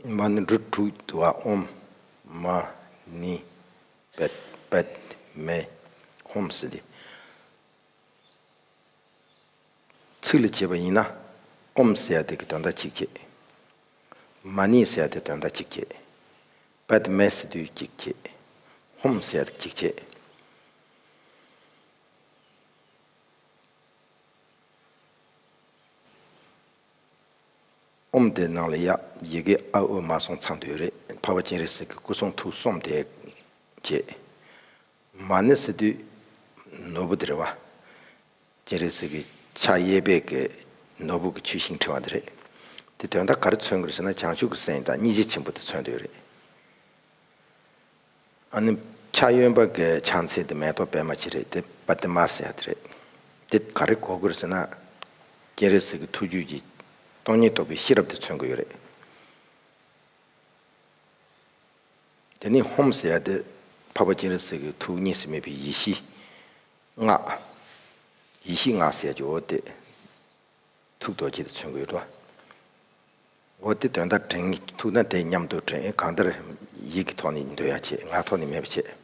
མ་ནི་འབྲུ་དྲུག་དུ་བ་ཨོམ། མ་ནི་པདྨའི་ཧོམ་སྲི་ལས། ཚིག་ལ་བྱེད་པ་ཡིན་ན། ཨོམ་སྲི་ཡ་དེ་གི་དོན་མཐའ་གཅིག་བྱེད། མ་ནི་སྲི་ཡ་དེ་དོན་མཐའ་གཅིག་བྱེད། པདྨའི་སྲི་དུས་གཅིག་བྱེད། ཧོམ་སྲི་ཡ་དེ་གཅིག་བྱེད། ཨོམ་དེ་ནང་ལ་ཡག་ཡི་གེ་ཨ་ཨོ་མ་སོང་ཚང་དུས་རེད་འཕགས་པ་སྤྱན་རས་གཟིགས་ཀྱི་སྐུ་གསུང་ཐུགས་གསོམ་བསྡད་རྗེས། མ་ཎི་སི་ཏུས་ནོར་བུ་དེ་རེད་བ། སྤྱན་རས་གཟིགས་ཀྱི་ཕྱག་གཡས་སྦས་ཀྱི་ནོར་བུ་གྱི་ཆུ་ཤིང་ཕྲེང་བ་དེ་རེད། དེ་དོན་དག་ག་རེ་མཚོན་དགོས་ཟེར་ན་བྱང་ཆུབ་ཀྱི་སེམས་དང་སྙིང་རྗེ་ཆེན་པོ་དེ་མཚོན་འདོད་རེད། ཨ་ནི། ཕྱག་གཡོན་པ་འགའི་ཕྱག་མཚན་དེ་མེ་ཏོག་པད་མ་ཅི་རེད་དེ་པ་ཏི་མ་ཟེར་ཡག་དེ་རེད། དེ་ག་རེ་གོ་དགོས་ཟེར་ན། སྤྱན་རས་གཟིགས་ཀྱི་ཐུགས་རྒྱུད་ཀྱི་སྟོང་ཉིད་རྟོགས་པའི་ཤེས་རབ་དེ་མཚོན་དགོས་ཡོད་རེད། དེ་ནས་ཧོམ་ཟེར་ཡག་དེ་འཕགས་པ་སྤྱན་རས་གཟིགས་ཀྱི་ཐུགས་གཉིས་སུ་མེད་པའི་ཡེ་ཤེས་སྔགས། ཡེ་ཤེས་སྔགས་ཟེར་ཡག་གི་འོ་དེ། ཐུགས་རྡོ་རྗེ་དེ་ཚུན་དགོད་བྲོ། འོ་དེ་དོན་ལྟར་དྲན། ཐུགས་དང་དེ་མཉམ་དུ་དྲན། གང་ལྟར་ཡིད་ཀྱི་ཐོག་ནས་འདོད་ཡ་བྱེད། ངག་ཐོག་ནས་མེད་པ་བྱེད།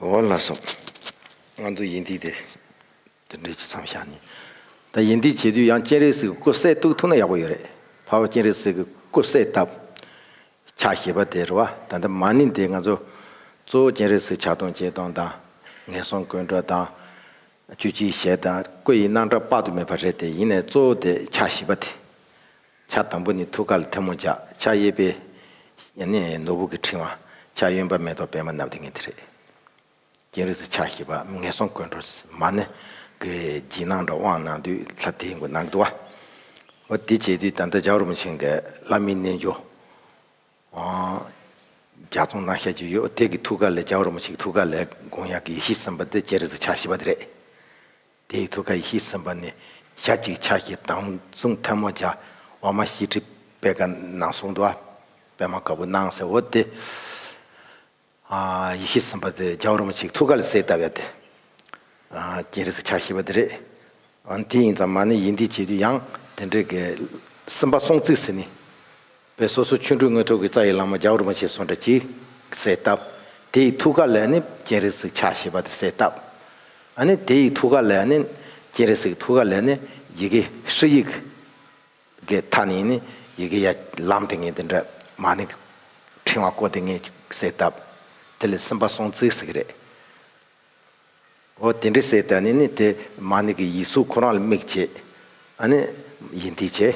འོ་ལ་སོགས། ང་ཚོ་ཡིན་དུས་དེ་འདྲའི་ཇི་ཙམ་བཞག་ནས། ད་ཡིན་དུས་བྱེད་དུས་ཡང་སྤྱན་རས་གཟིགས་ཀྱི་སྐུ་གསལ་གཏུགས་ཐུབ་ན་ཡག་པོ་ཡོད་རེད། ཕ་བོ་སྤྱན་རས་གཟིགས་ཀྱི་སྐུ་གསལ་བཏབ། ཕྱག་བཞེས་པ་དེ་རུ་བ་ད་ལྟ་མ་ནིང་དེ་ང་ཚོ། གཙོ་བོ་སྤྱན་རས་གཟིགས་ཕྱག་སྟོང་ཆེ་སྟོང་དང། ངན་སོང་ཀུན་འགྲོ་དང། བཅུ་གཅིག་ཞལ་དང་སྐུ་ཡི་སྣང་གྲགས་དཔག་ཏུ་མེད་པ་རེད་དེ་ཡིན་ནས་གཙོ་བོ་དེ་ཕྱག་བཞེས་པ་དེ། ཕྱག་དང་པོ་ནི་ཐུགས་ཀར་ཐལ་མོ་བཅག་ཕྱག་གཡས་པས། ནོར་བུ་གྱི་ཕྲེང་བ། ཕྱག་གཡོན་པ་མེ་ཏོག་པད་མ་རྣམས་ཏེ་ངེས་ཏེ་རེག། རྒྱན་རིགས་སུ་ཕྱག་བཞི་པ་ངན་སོང་ཀུན་འགྲོ་མ་ནི། བགྱིས་ནང་འདྲ་དབང་ནང་དུས་ལྷ་དེའི་མགོ་ནག་དུ་བ། འདི་བྱས་དུས་ད་ལྟ་ཇག་རུམ་ཆེན་གྱི་བླ་མའི་རྣལ་འབྱོར། རྒྱ་མཚོ་ནང་ཤར་གྱི་ཡོ་དེ་ཀྱི་ཐུགས་ཀ་ལས་ཇག་རུམ་ཆེན་གྱི་ཐུགས་ཀ་ལས་དགོངས་ཡངས་ཀྱི་ཡེ་ཤེས་སེམས་དཔའ་འདི་བྱེད་རིགས་སུ་ཕྱག་བཞི་པ་འདི་རེག། དེའི་ཐུགས་ཀ་ཡེ་ཤེས་སེམས་དཔའ་ནི་ཞག་གཅིག་ཕྱག་བཞི་དང་གསུང་ཐལ་མོ་བརྒྱ། འོག་མ་བཞི་ཁྲི་པད་དཀར་ནང་གསུང་དུ་པདྨ་དཀར་པོ་སྣང་གསལ་བོ་སྟེ། ཡེ་ཤེས་སེམས་དཔའ་དེ་རྒྱ་གར་མོ་ཆིག་ཐུགས་ཀ་ལ་གསལ་བཏབ་པ་དེ། སྤྱན་རས་ཕྱག་བཞི་པ་དེ་རེད། འདི་ཡིན་ཙང་མ་ནི་ཡིན་འདི་བྱེད་དུས་ཡང་དེ་འདྲའི་སེམས་དཔའ་སྲོང་བརྩིགས་སེ་ནི། བས་སོ་སོ་ཆོས་འཕྲུལ་དངོས་ཐོག་གི་རྩ་ཡི་ལང་མ་རྒྱ་གུར་མ་ཞེས་སོགས་འདྲ་གཅིག་གསལ་བཏབ། དེ་ཡི་ཐུགས་ཀ་ལས་ནི་སྤྱན་རས་གཟིགས་ཕྱག་བཞི་པ་དེ་གསལ་བཏབ། ནི་དེ་ཡི་ཐུགས་ཀ་ལས་ནི། སྤྱན་རས་གཟིགས་ཐུགས་ཀ་ལས་ནི་ཡི་གེ་ཧྲི་ཡིག། གི་མཐའ་ནི་ནི་ཡི་གེ་ཡ། ལམ་དེ་ངེས་དེ་འདྲ། མ་ནི། ཕྲེང་བ་བསྐོར་དེ་ངེས་གསལ་བཏབ། དེ་ལས་སེམས་དཔའ་སྲོང་བཙིར་གཟིགས་རེ། འོ་དེ་འདྲ་གསལ་བཏབ་ནི་ནི་དེ་མ་ནི་གི་ཡིག་གཟུགས་ཁོ་རང་ལ་དམིགས་བྱས། ནི། ཡིན་དེའི་ཆེ།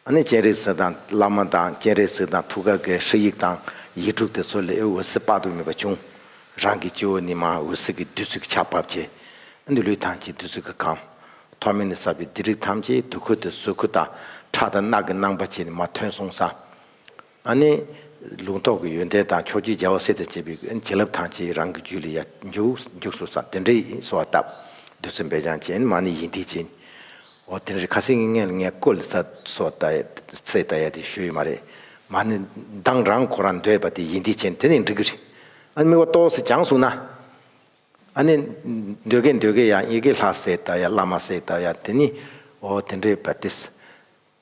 ཨ་ནི་སྤྱན་རས་གཟིགས་དང་བླ་མ་དང་སྤྱན་རས་གཟིགས་དང་ཐུགས་ཀ་དགའི་ཧྲཱི་ཡིག་དང་ཡིག་དྲུག་དེ་ཚོ་ལས་འོད་ཟེར་དཔག་ཏུ་མེད་པ་བྱུང། རང་གི་སྤྱི་བོ་ནི་མ་འོད་ཟེར་གྱི་བདུད་རྩི་གི་ཆར་བབས་རྗེས། ཨ་ནི་ལུས་ཐམས་ཅད་བདུད་རྩི་གིས་གང། ཐོག་མེད་ནས་ཟ་བའི་སྡིག་རིགས་ཐམས་ཅད་དུ་ཁུར་ཏེ་གཟུགས་ཁུ་དང། ཁྲག་དང་རྣག་གི་སྣང་བ་བཅས་ནི་མ་ཐོན་གསུངས་སམ། ཨ་ནི། ལུང་རྟོགས་ཀྱི་ཡོན་ཏན་དང་ཕྱོགས་བཅུའི་རྒྱལ་བ་སྲས་དང་བཅས་པའི་བྱིན་རླབས་དང་བཅས་རང་གི་རྒྱུད་ལ་ཡང་འཇུག། སོ་སང་དེ་འདྲའི་གསོལ་བ་བཏབ། བདུད་རྩི་འབེལ་སྦྱང་བྱིན། མ་ནི་ཡིད་འདི་བྱིན། འོ་དེ་འདྲའི་ཁ་ཟས་ངན་ངན་ལ་ངས་བསྐོལ་ལ་ཟ། སོ་ད་ཡ། སྲས་ད་ཡ་དེ་ཞུ་ཡི་མ་རེད། མ་ནི། མདངས་རང་ཁོ་རང་འདོད་པ་དེ་ཡིད་འདི་བྱིན་དེ་ནི་འགྲིག་གི་རེད། ཨ་ནི་དམིགས་བ་ཏོག་སེ་སྦྱངས་གསུངས་ན། ཨ་ནི། འདོད་དགེ་འདོད་དགེ་ཡང་ཡི་གེ་ལྷ་སྲས་ད་ཡ་བླ་མ་སྲས་ད་ཡ་དེ་ནི། འོ་དེ་འདྲའི་བ་དེ།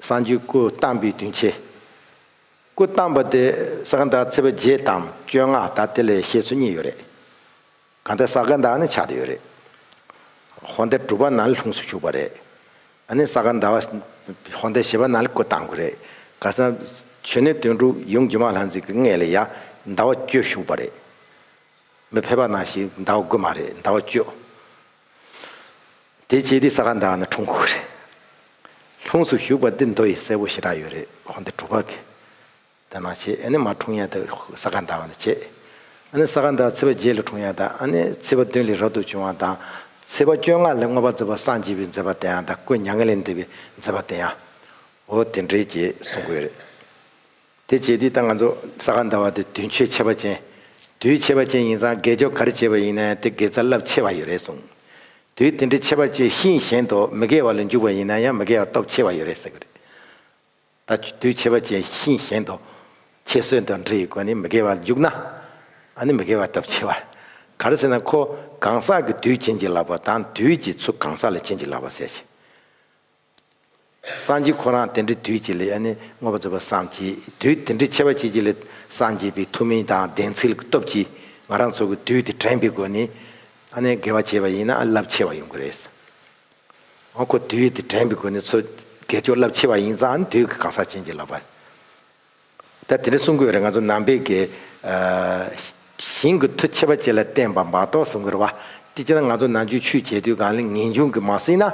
སངས་རྒྱས་སྐུ་བལྟམས་པའི་དོན་ཕྱེ། སྐུ་བལྟམས་པ་དེ་ས་ག་ཟླ་ཚེས་པ་བརྒྱད་དམ་བཅོ་ལྔ་ད་དེ་ལས་བཤད་ཚུལ་གཉིས་ཡོད་རེད། གང་ལྟར་ས་ག་ཟླ་ནི་ཆགས་ཏེ་ཡོད་རེད། ཧོར་ཟླ་དྲུག་པ་ན་ལྷུངས་སུ་བཞུགས་པ་རེད། ཨ་ནི་ས་ག་ཟླ་བ་ཧོར་ཟླ་བཞི་པ་ན་སྐུ་བལྟམས་དགོས་རེད། ག་ས་བྱོན་ནས་དོན་དྲུག་ཡུམ་སྒྱུ་མ་ལྷ་མཛེས་ཀྱི་མངལ་ལ་ཡང་ཟླ་བ་བཅོ་བཞུགས་པ་རེད། མི་ཕལ་པ་ན་ཞིག་ཟླ་བ་དགུ་མ་རེད་ཟླ་བ་བཅོ། དེ་རྗེས་འདི་ས་ག་ཟླ་བ་ན་འཁྲུངས་ཁུག་རེད། ལྷུངས་སུ་བཞུགས་པ་འདི་མདོ་ཡི་སྲས་པོ་ཞེ་དྲག་ཡོད་རེད་ཁོང་འདི་གྲུ་པ་གི། དེ་ནང་བྱས་ཨ་ནི་མ་འཁྲུངས་ཡ་དེ་ས་ག་ཟླ་བ་ན་བྱས། ཨ་ནི་ས་ག་ཟླ་བ་ཚེས་པ་བརྒྱད་ལ་འཁྲུངས་ཡ་དང་ཨ་ནི་ཚེས་པ་བདུན་ལས་རབ་ཏུ་བྱུང་བ་དང། ཚེས་པ་བཅོ་ལྔ་ལས་བསྔོ་བ་མཛད་པ་སངས་རྒྱས་པའི་མཛད་པ་དེ་ཡང་དང་སྐུ་མྱ་ངན་ལས་འདས་པའི་མཛད་པ་དེ་ཡང། འོ་དེ་འདྲའི་རྗེས་གསུངས་ཀྱི་ཡོད་རེད། དེ་བྱས་དུས་ད་ང་ཚོ་ས་ག་ཟླ་བ་དེ་དུས་མཆོད་ཆེ་བ་ཅན། དུས་ཆེ་བ་ཅན་ཡིན་ཙང་དགེ་སྦྱོར་ག་རེ་བྱས་པ་ཡིན་ན་དེ་དགེ་རྩ་རླབས་ཆེ་བ་ཡོད་རེད་གསུངས། དུས་དེ་འདྲའི་ཆེ་བ་ཅན་ཤིན་གཞན་དུ་མི་དགེ་བ་ལ་འཇུག་པ་ཡིན་ན་ཡང་མི་དགེ་བ་སྟོབས་ཆེ་བ་ཡོད་རེད་ཟེར་གྱི་རེད། ད་དུས་ཆེ་བ་ཅན་ཤིན་གཞན་དུ། ཁྱེད་གསོལ་འདེབས་འབྲི་ཡི་སྒོ་ནས་མི་དགེ་བ་ལ་འཇུག་ན། ཨ་ནི་མི་དགེ་བ་སྟོབས་ཆེ་བ། ག་རེ་ཟེར་ན་ཁོ་གང་ཟག་གི་དུས་བྱིན་གྱིས་བརླབས་པ་དང་དུས་ཀྱི་ཚུལ་གང་ཟག་ལ་བྱིན་གྱིས་བརླབས་པ་ཟེར་གྱི། སངས་རྒྱས་ཁོ་རང་དེ་འདྲའི་དུས་ཀྱི་ལས་ནི་དངོས་པོ་རྫོགས་པར་བསམ་གྱིས་དུས་དེ་འདྲའི་ཆེ་བ་བྱེད་ཀྱི་ལས་སངས་རྒྱས་པའི་ཐུགས་མིང་དང་ལྡན་ཚུལ་གྱི་སྟོབས་ཀྱིས་ང་རང་ཚོ་གི་དུས་དེ་དྲན་པའི་སྒོ་ནས་དགེ་བ་བྱས་པ་ཡིན་ན་རླབས་ཆེ་བ་ཡོང་གི་རེད། འོ་ཁོ་དུས་དེ་དྲན་པའི་སྒོ་ནས་ཚོ་དགེ་སྦྱོར་རླབས་ཆེ་བ་ཡིན་ཙང་དུས་ཀྱི་གང་ཟག་ཅན་གྱི་ལག་པ། ད་དེ་འདྲ་གསུང་དགོས་རེད་ང་ཚོ་ནང་པའི་དགེ། ཞིང་གི་མཐུ་ཆེ་བ་བཅས་ལ་བརྟེན་པ་འབག་ཏོག་གསུང་དགོས་རེད་བ། དེ་བྱས་ན་ང་ཚོ་ནང་ཆོས་ཆུས་བྱས་དུས་གང་ལེགས་ངེས་འབྱུང་གི་མ་སྲིད་ན།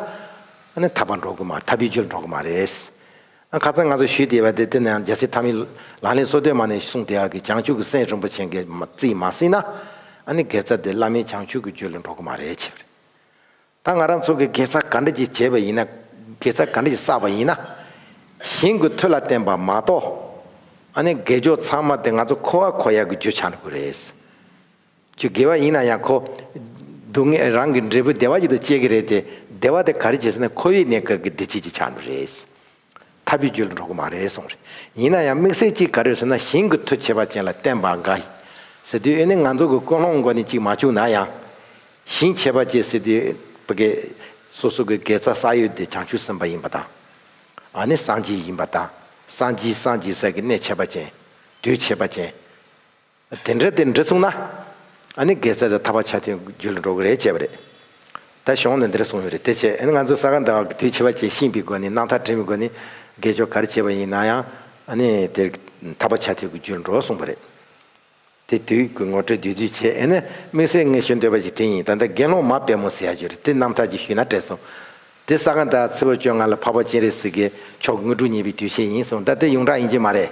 ཨ་ཐ་པ་འགྲོ་དགོས་མ་ཐ་བི་ཇོལ་འགྲོ་དགོས་མ་རེད། ཨ་ཁ་ཚང་ང་ཚོ་ཞུས་དེ་བ་དེ་དེ་ནང་རྒྱལ་སྲིད་ཐ་མི་ལག་ལེན་སོ་དོད་མ་ནས་གསུང་དེ་ཨ་ཀི་བྱང་ཆུབ་ཀི་སེང་རིན་པོ་ཆེན་གི་རྩིས་མ་སྲིད་ན། ཨ་ནི་དགེ་རྩ་དེ་བླ་མའི་བྱང་ཆུབ་ཀི་ཇོལ་ལ་འགྲོ་དགོས་མ་རེད་ཆེ་བ་རེད། ད་ང་རང་ཚོ་གི་དགེ་རྩ་ག་འདྲ་གྱིས་བྱས་པ་ཡིན་ན། དགེ་རྩ་ག་འདྲ་གྱིས་བསགས་པ་ཡིན་ན། གཞན་གུས་ཐུགས་ལ་བརྟེན་པ་མ་གཏོགས། ཨ་ནེ་དགེ་སྦྱོར་ཚང་མ་དེ་ང་ཚོ་ཁོ་བ་ཁོ་ཡག་གི་རྒྱུ་ཆགས་ན་དགོས་རེད། ཆུ་དགེ་བ་ཡིན་ན་ཡང་ཁོ། སྡུག་བསྔལ་རང་གི་འབྲས་བུ་བདེ་བ་ཡིད་དུ་བཅས་ཀྱི་རེད་དེ། བདེ་བ་དེ་ག་རེ་བྱས་ཟེར་ན་ཁོ་བའི་གནས་སྐབས་ཀྱི་བདེ་སྐྱིད་ཀྱི་ཆགས་ན་རེད། ཐར་པའི་རྒྱུ་ལ་འགྲོ་གི་མ་རེད་གསུངས། ཡིན་ན་ཡང་དམིགས་བསལ་གཅིག་ག་རེ་ཟེར་ན་ཞིང་གི་མཐུ་བྱེད་པ་ཅན་ལ་བསྟན་པ་འགའ། ཟེར་དུས་ཨེ་ནི་ང་ཚོ་གི་ཀུན་སློང་མགོ་ནས་གཅིག་མ་བཅུག་ན་ཡང། ཞིང་བྱེད་པ་ཅན་ཟེར་དུས་བི་གེ། སོ་སོ་གི་དགེ་རྩ་བསགས་ཡུལ་དེ་བྱང་ཆུབ་སེམས་དཔའ་ཡིན་པ་དང། ཨ་ནི་སངས་རྒྱས་ཡིན་པ་དང་སངས་རྒྱས་སངས་རྒྱས་ས་གི་གནས་བྱེད་པ་ཅན། དུས་བྱེད་པ་ཅན། དེ་འདྲ་དེ་འདྲ་གསུངས་ན། ཨ་ནི་དགེ་རྩ་དེ་ཐར་པ་ཆ་མཐུན་རྒྱུད་ལ་འགྲོ་གི་རེད་ཅེས་པ་རེད། ད་གཞུང་ནས་འདི་འདྲ་གསུངས་ཡོད་རེད་དེ་བྱས་ཨ་ནི་ང་ཚོ་ས་ག་ཟླ་བ་གི་དུས་ཕྱི་བ་བྱས་ཤིང་པའི་སྒོ་ནས་སྣང་མཐར་དྲན་པའི་སྒོ་ནས་དགེ་སྦྱོར་ག་རེ་བྱས་པ་ཡིན་ན་ཡང་ཨ་ནི་དེར་ཐར་པ་ཆ་མཐུན་གྱི་རྒྱུད་ལ་འགྲོ་གསུངས་པ་རེད། དེ་དུས་ཀྱི་ངོ་སྤྲོད་བདུད་རྩི་བྱས་ཨེ་ནི་དམིགས་བསལ་ངས་ཞུ་འདོད་པ་ཞིག་དེ་ཡིན་ད་ལྟ་དགེ་སློང་མ་དཔལ་མོ་ཟེར་ཡག་རྒྱུ་རེད་དེ་རྣམ་ཐར་གྱི་ཞུས་ན་བྲེལ་སོང། དེ་ས་ག་ཟླ་བ་ཚེས་བོད་བཅོ་ལྔ་ལ་འཕགས་པ་སྤྱན་རས་གཟིགས་དགེ་མཆོག་དངོས་གྲུབ་བརྙེས་པའི་དུས་ཆེན་ཡིན་གསུངས་ད་དེ་ཡོངས་གྲགས་ཡིན་གྱི་མ་རེད།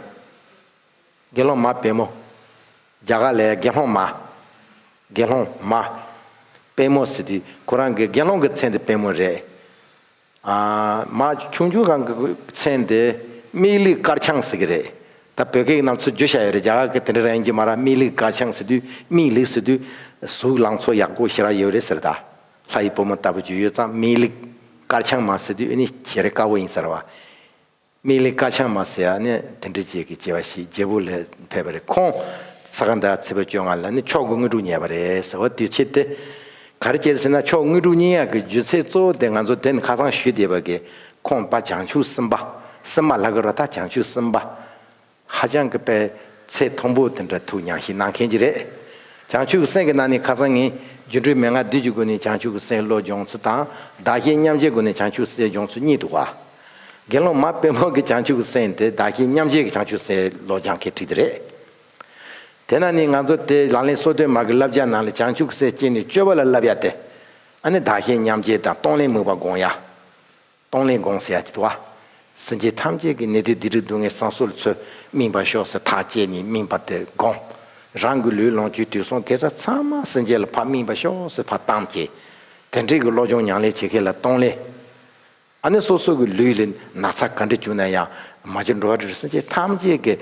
དགེ་སློང་མ་པད་མོ། རྒྱ་གར་ལས། དགེ་སློང་མ། དགེ་སློང་མ། པད་མོ་ཟེར་དུས་ཁོ་རང་གི་དགེ་སློང་གི་མཚན་དེ་པད་མོ་རེད། མ། ཆུང་ཆུང་གང་གི་མཚན་དེ་སྨིག་ལིག་དཀར་ཆང་ཟེར་གི་རེད། ད་བོད་སྐད་ནང་ཚུར་བརྗོད་བྱ་ཡོད་རེད་རྒྱ་གར་གི་དེ་འདྲ་རང་ཡིན་གྱི་མ་ར་སྨིག་ལིག་དཀར་ཆང་ཟེར་དུས་སྨིག་ལིག་ཟེར་དུས། གཟུགས་ལང་ཚོ་ཡག་པོ་ཞེ་རག་ཡོད་རེད་ཟེར་ད། ལྷ་ཡི་བུ་མོ་ལྟ་བུ་བརྗོད་ཡོད་ཙང་སྨིག་ལིག་དཀར་ཆང་མ་ཟེར་དུས་ཨེ་ནི་ཞེ་རེ་དཀར་བོ་ཡིན་ཟེར་བ། མིག་ལས་ཀ་ཆང་མ་ཟེར་ཡ་ནི་དེ་འདྲའི་རྗེས་ཀྱི་སྐྱེ་བ་ཞིག་རྒྱལ་བུ་ལས་ཕེབས་པ་རེད་ཁོང་ས་ག་ཟླ་ཚེས་པའི་བཅོ་ལྔ་ལ་ནི་ཕྱོགས་ཀུན་དངོས་གྲུབ་བརྙེས་པ་རེད་ཟེར་བ་དུས་ཕྱིས་ཏེ། ག་རེ་བྱེད་ཟེར་ན་ཕྱོགས་དངོས་གྲུབ་བརྙེས་ཡག་གི་རྒྱུ་ཚེགས་གཙོ་བོ་དེ་ང་ཚོ་དེ་ནི་ཁ་སང་ཞུས་བསྡད་པ་གིས་ཁོང་པ་བྱང་ཆུབ་སེམས་དཔའ་སེམས་མ་ལྷ་དགའ་རོ་ད་བྱང་ཆུབ་སེམས་དཔའ་ཧ་ཅང་གི་པའི་ཚེ་ཐོང་པོ་དེ་འདྲ་ཐུགས་མྱངས་ཤིག་གནང་མཁན་གྱི་རེད། བྱང་ཆུབ་སེམས་ཀྱི་ནང་ནས་ཁ་སང་ངས་སྒྱུ་འཕྲུལ་མན་ངག་བདུད་ཀྱི་སྒོ་ནས་བྱང་ཆུབ་སེམས་བློ་སྦྱོང་ཚུལ་དང་བདག་གཞན་མཉམ་བརྗེའི་སྒོ་ནས་བྱང་ཆུབ་སེམས་སྦྱོང་ཚུལ་གཉིས་འདུག་བ། དགེ་སློང་མ་དཔོན་མོ་གི་བྱང་ཆུབ་སེམས་དེ་བདག་གཞན་མཉམ་བརྗེ་གི་བྱང་ཆུབ་སེམས་བློ་སྦྱང་མཁན་བྲིས་དེ་རེད། དེས་ན་ནི་ང་ཚོ་དེ་ལག་ལེན་སོ་བདུན་མ་གི་བསླབ་བྱ་ནང་ལ་བྱང་ཆུབ་སེམས་བསྐྱེད་ནི་སྤྱོད་པ་ལ་བསླབ་ཡ་སྟེ། ཨ་ནི་བདག་གཞན་མཉམ་བརྗེ་དང་གཏོང་ལེན་མོས་པ་དགོངས་ཡ། སྟོང་ལས་དགོངས་ཟེར་ཡ་བ། སེམས་ཅན་ཐམས་ཅད་ཀྱི་ནད་གདོན་སྡིག་སྒྲིབ་སྡུག་བསྔལ་སང་སོ་ལ་ཚུལ་སྨིན་པར་ཤོག་ཟེར་ཐག་བཅད་ནས་སྨིན་པ་དེ་དགོངས། རང་གི་ལུས་ལོངས་སྤྱོད་དུས་སོང་དེ་ཚ་ཚང་མ་སེམས་ཅན་ལ་ཕ་སྨིན་པར་ཤོག་ཟེར་ཕ་གཏམ་བྱས། དེ་འཕྲལ་གྱི་བློ་སྦྱོང་མྱང་ལས་བྱེད་མཁན་ལ་སྟོང་ལས། ཨ་ནི་སོ་སོ་གི་ལུས་ལས་ན་ཚ་ག་འདྲི་བྱུང་ན་ཡང་མ་བྱེད་འགྲོ་བ་རིར་སེམས་ཅན་ཐམས་ཅད་ཀྱི་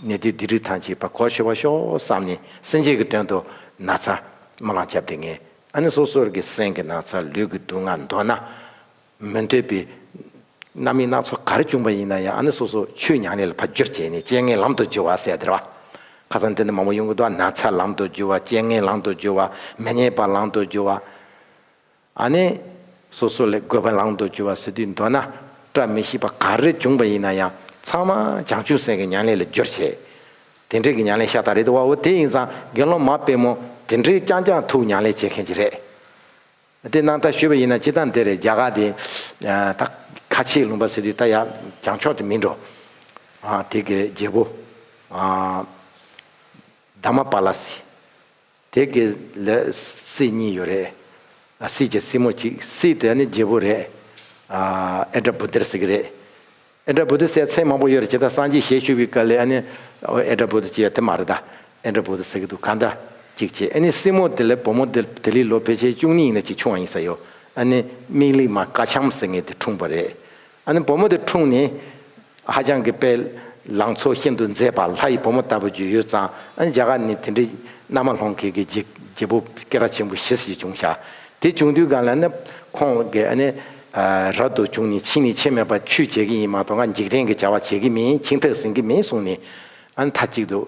ནད་གདོན་སྡིག་སྒྲིབ་ཐམས་ཅད་ཕ་གོ་ཆོད་པར་ཤོག་བསམ་ནས་སེམས་ཅན་གྱི་དོན་དུ་ན་ཚ་མ་ལང་སྐྱབས་དེ་ངས་ཨ་ནི་སོ་སོར་གྱི་སེམས་ཀྱི་ན་ཚ་ལུས་ཀྱི་སྡུག་བསྔལ་མདོར་ན། མི་འདོད་པའི་རྣམ་སྨིན་སྣ་ཚོགས་ག་རེ་བྱུང་བ་ཡིན་ན་ཡང་ཨ་ནི་སོ་སོ་ཆོས་ཉག་ཉིད་ལ་ཕར་རྒྱུར་བྱས་ནས་སྤྱན་ལྔའི་ལམ་དུ་རྒྱུ་བ་གསལ་བདེར་བ། ཁ་སང་འདི་ནས་མང་པོ་གཡུང་དྲུང་དུ་ན་ཚ་ལམ་དུ་རྒྱུ་བ་སྤྱན་ལྔའི་ལམ་དུ་རྒྱུ་བ་མི་སྙན་པ་ལམ་དུ་རྒྱུ་བ། ཨ་ནི་སོ་སོ་ལས་དགོས་པ་ལམ་དུ་རྒྱུ་བ་ཟེར་དུས་མདོར་ན་བཀྲ་མི་ཤིས་པ་ག་རེ་བྱུང་བ་ཡིན་ན་ཡང་ཚང་མ་བྱང་ཆུབ་སེམས་ཀྱི་ཉག་ཉིད་ལ་རྒྱུར་བྱས། དེ་འདྲས་ཀྱི་མྱང་ལས་ཤ་སྟག་རེད་དེ་བ་བོ་དེ་ཡིན་ཙང་དགེ་སློང་མ་དཔེ་མོ་དེ་འདྲས་རྐྱང་རྐྱང་ཐུག་མྱང་ལས་བྱེད་མཁན་གྱི་རེད་དེ་གནང་ཐག་ཞུས་པ་ཡིན་ན་སྤྱི་སྟངས་དེ་རེད་རྒྱ་གར་དེ་ད་ཁ་ཆེའི་ལུང་པ་ཟེར་དུས་ད་ཡ་རྒྱང་ཕྱོགས་དེ་མིན་འགྲོ་དེ་གའི་རྒྱལ་པོ་དཱ་མ་པཱ་ལ་སི། དེ་གི་ལས་སྲིད་གཉིས་ཡོད་རེད། སྲིད་ཀྱི་སྲིད་མོ་གཅིག་སྲིད་དེ་ནི་རྒྱལ་པོ་རེད། ཨེ་དྲ་བུ་དེར་ཟེར་གི་རེད། ཨེ་དྲ་བུ་དེ་སའི་མཚན་མང་པོ་ཡོད་རེད་ཇི་ལྟར་སངས་རྒྱས་ཞལ་ཞུ་བའི་སྐལ་ལས་ཨ་ནི་ཨེ་དྲ་བུ་དེ་ཅི་ཡོད་དེ་མ་རེད་ད། ཨེ་དྲ་བུ་དེ་ཟེར་གི་འདུག་གང་འདྲ་གཅིག་བྱས་ཨེ་ནི་སྲིད་མོ་དེ་ལས་བུ་མོ་དེ་དེ་ལི་ལོ་ཕལ་ཆེར་བཅུ་གཉིས་ཡིན་ན་གཅིག་ཆུང་བ་ཡིན་ས་ཡོད་ཨ་ནི་མིག་ལིག་མ་ཀ་ཆམ་ཟེར་ངེས་དེ་འཁྲུངས་པ་རེད། ཨ་ནི་བུ་མོ་དེ་འཁྲུངས་ནས། ཧ་ཅང་གི་དཔེ། ལང་ཚོ་ཤིན་ཏུ་མཛེས་པ་ལྷ་ཡི་བུ་མོ་ལྟ་བུ་རྒྱུས་ཡོད་ཙང་ཨ་ནི་རྒྱ་གར་ནི་དེ་འདྲའི། མནའ་མ་ལྷོང་གེ་གི་རྒྱལ་པོ་ཀེ་ར་ཆེན་པོ་ཞི་སི་ཡི་བྱུང་ཤ། དེ་བྱུང་དུས་ག་ལ་ནི། ཁོང་གི་ཨ་ནི། རབ་ཏུ་བྱུང་ནས་ཕྱིས་ནས་ཆེ་མེད་པར་ཆུས་བྱས་ཀི་ཡིན་མ་གཏོགས་ང་འཇིག་རྟེན་གི་བྱ་བ་བྱེད་ཀི་མིན་ཁྱིང་ཐག་ཟིན་གི་མིན་གསུངས་ནས། ཨ་ནི་ཐ་གཅིག་ཏུ།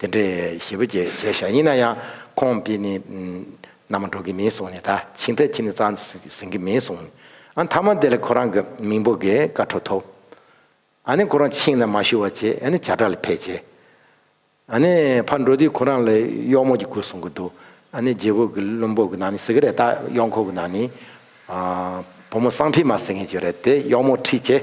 དེ་འདྲའི་ཞེ་བོ་བརྒྱད་བྱས་ཤག་ཡིན་ན་ཡང་ཁོང་འདི་ནི་ནམ་འགྲོ་གི་མིན་སོང་ནི་ད་ཕྱིན་ད་ཁྱི་ནི་རྩ་ཟིན་གི་མིན་སོང་ཨ་མཐའ་མ་དེ་ལ་ཁོ་རང་གི་མིང་པོ་གི་ཀ་འཕྲོ་ཐོབ་ཨ་ནི་ཁོ་རང་ཕྱིན་ན་མ་ཞུ་བ་བྱས་ཨ་ནི་བྱ་བྲག་ལ་ཕེབས་བྱས་ཨ་ནི་ཕར་འགྲོ་དུས་ཁོ་རང་ལ་གཡོག་མོ་གྱི་སྐུ་གསུང་གི་འདུག་ཨ་ནི་རྗེ་བོ་གི་བློན་པོ་གི་ནང་ནས་ཟེར་གི་རེད་ད་གཡོག་འཁོར་གི་ནང་ནས་བུ་མོ་སང་ཕི་མ་ཟེར་མཁན་བྱོས་རེད་དེ་གཡོག་མོ་ཁྲིད་བྱས།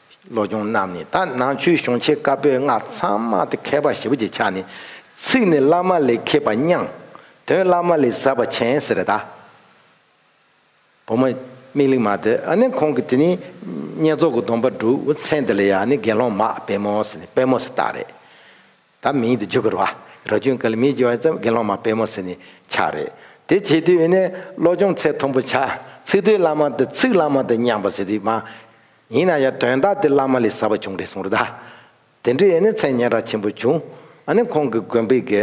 བློ་སྦྱོང་རྣམས་ནི་དག་སྣང་ཆོས་གཞུང་ཆེ་དཀར་པོའི་སྔགས་ཚང་མ་སྟེ་མཁས་པ་ཞེ་བོ་ཅིག་ཆགས་ནས། ཚིག་ནི་བླ་མ་ལས་མཁས་པ་སྙང། དོན་བླ་མ་ལས་ཟབ་པ་ཆེན་ཟེར་གདའ། བུ་མོ། མིག་གླིང་མ་དེ་ཨ་ནི་ཁོང་གི་དེ་ནི། བསྙེན་རྫོགས་ཀྱི་སྡོམ་པ་སྒྲུབ་ཚེ་འདི་ལ་ཡང་ནི་དགེ་སློང་མ་པད་མོ་སི་ནི་པད་མོ་སི་བཏགས་རེད། ད་མིང་དུ་འཇུག་དགོས་ར་རོ་ཁྱོད་གལ་མིང་བགྱི་བ་ཙམ་དགེ་སློང་མ་དཔལ་མོ་ཟེར་ནས་ཆགས་རེད་དེ་བྱེད་དུས་ནས་བློ་སྦྱོང་ཚད་མཐོན་པོ་བྱ་ཚིག་དོན་བླ་མ་འདི་ཚིག་བླ་མ་འདི་སྙམ་པ་ཟེར་དུས་མ་ཡིན་ན་ཡང་དོན་དག་དེ་བླ་མ་ལས་ཟབ་པ་བྱུང་རེད་གསུང་ར་དེ་འདྲི་ཡས་ནས་མཚན་སྙན་ར་ཆེན་པོ་བྱུང་ཨ་ནི་ཁོང་གི་དགོན་པའི་དགེ་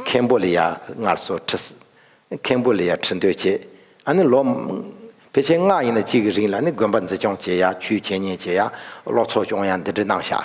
མཁན་པོ་ལ་ཡ་ངར་སོ་ཁྲི་ཟེར་མཁན་པོ་ལ་ཡ་ཁྲི་འདོད་བྱས་ཨ་ནི་ལོ་ཕལ་ཆེར་སྔགས་ཡིན་ན་གཅིག་གི་རིང་ལ་ནི་དགོན་པ་འཛི་སྐྱོང་བྱེད་ཡ་ཆུའི་འཆད་ཉན་བྱེད་ཡ་ལོ་ཚོགས་སྐྱོང་ཡ་འདི་འདྲི་གནང་ཤག་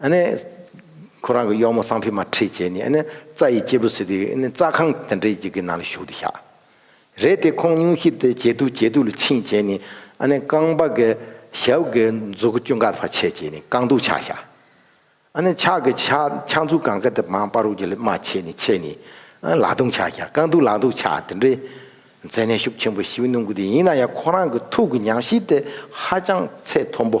ཨ་ནི། ཁོ་རང་གི་གཡོག་མོ་སང་ཕི་མ་ཁྲིད་བྱས་ནས་ཨ་ནི་རྩྭ་ཡི་སྐྱེས་བུ་ཟོས་དུས་ཨ་ནི་རྩྭ་ཁང་དེ་འདྲའི་ཡི་གེ་ནང་ལ་ཞུགས་ཏེ་བཞག་རེད་དེ་ཁོང་སྙུང་གཞི་དེ་ཇེ་སྡུག་ཇེ་སྡུག་ལ་ཕྱིན་བྱས་ནས་ཨ་ནི་རྐང་པ་གི་ཞབས་ཀྱི་མཛུབ་གུ་ཅུང་འགག་བར་བྱས་བྱས་ནས་རྐང་དུག་ཆག་བཞག་ཨ་ནི་ཕྱག་གི་ཕྱག་མཛུབ་གང་ག་དེ་མང་པ་རུ་གྱི་ལི་མ་ཆད་ནས་ཆད་ནས་ཨ་ནི་ལག་དུག་ཆག་བཞག་རྐང་དུག་ལག་དུག་ཆག་དེ་འདྲའི་མཛེས་ནད་ཤུགས་ཆེན་པོ་ཞིག་གནོང་གི་འདུག་ཡིན་ན་ཡང་ཁོ་རང་གི་ཐུགས་ཀྱི་ཉམས་ཞིབ་དེ་ཧ་ཅང་ཚད་མཐོན་པོ།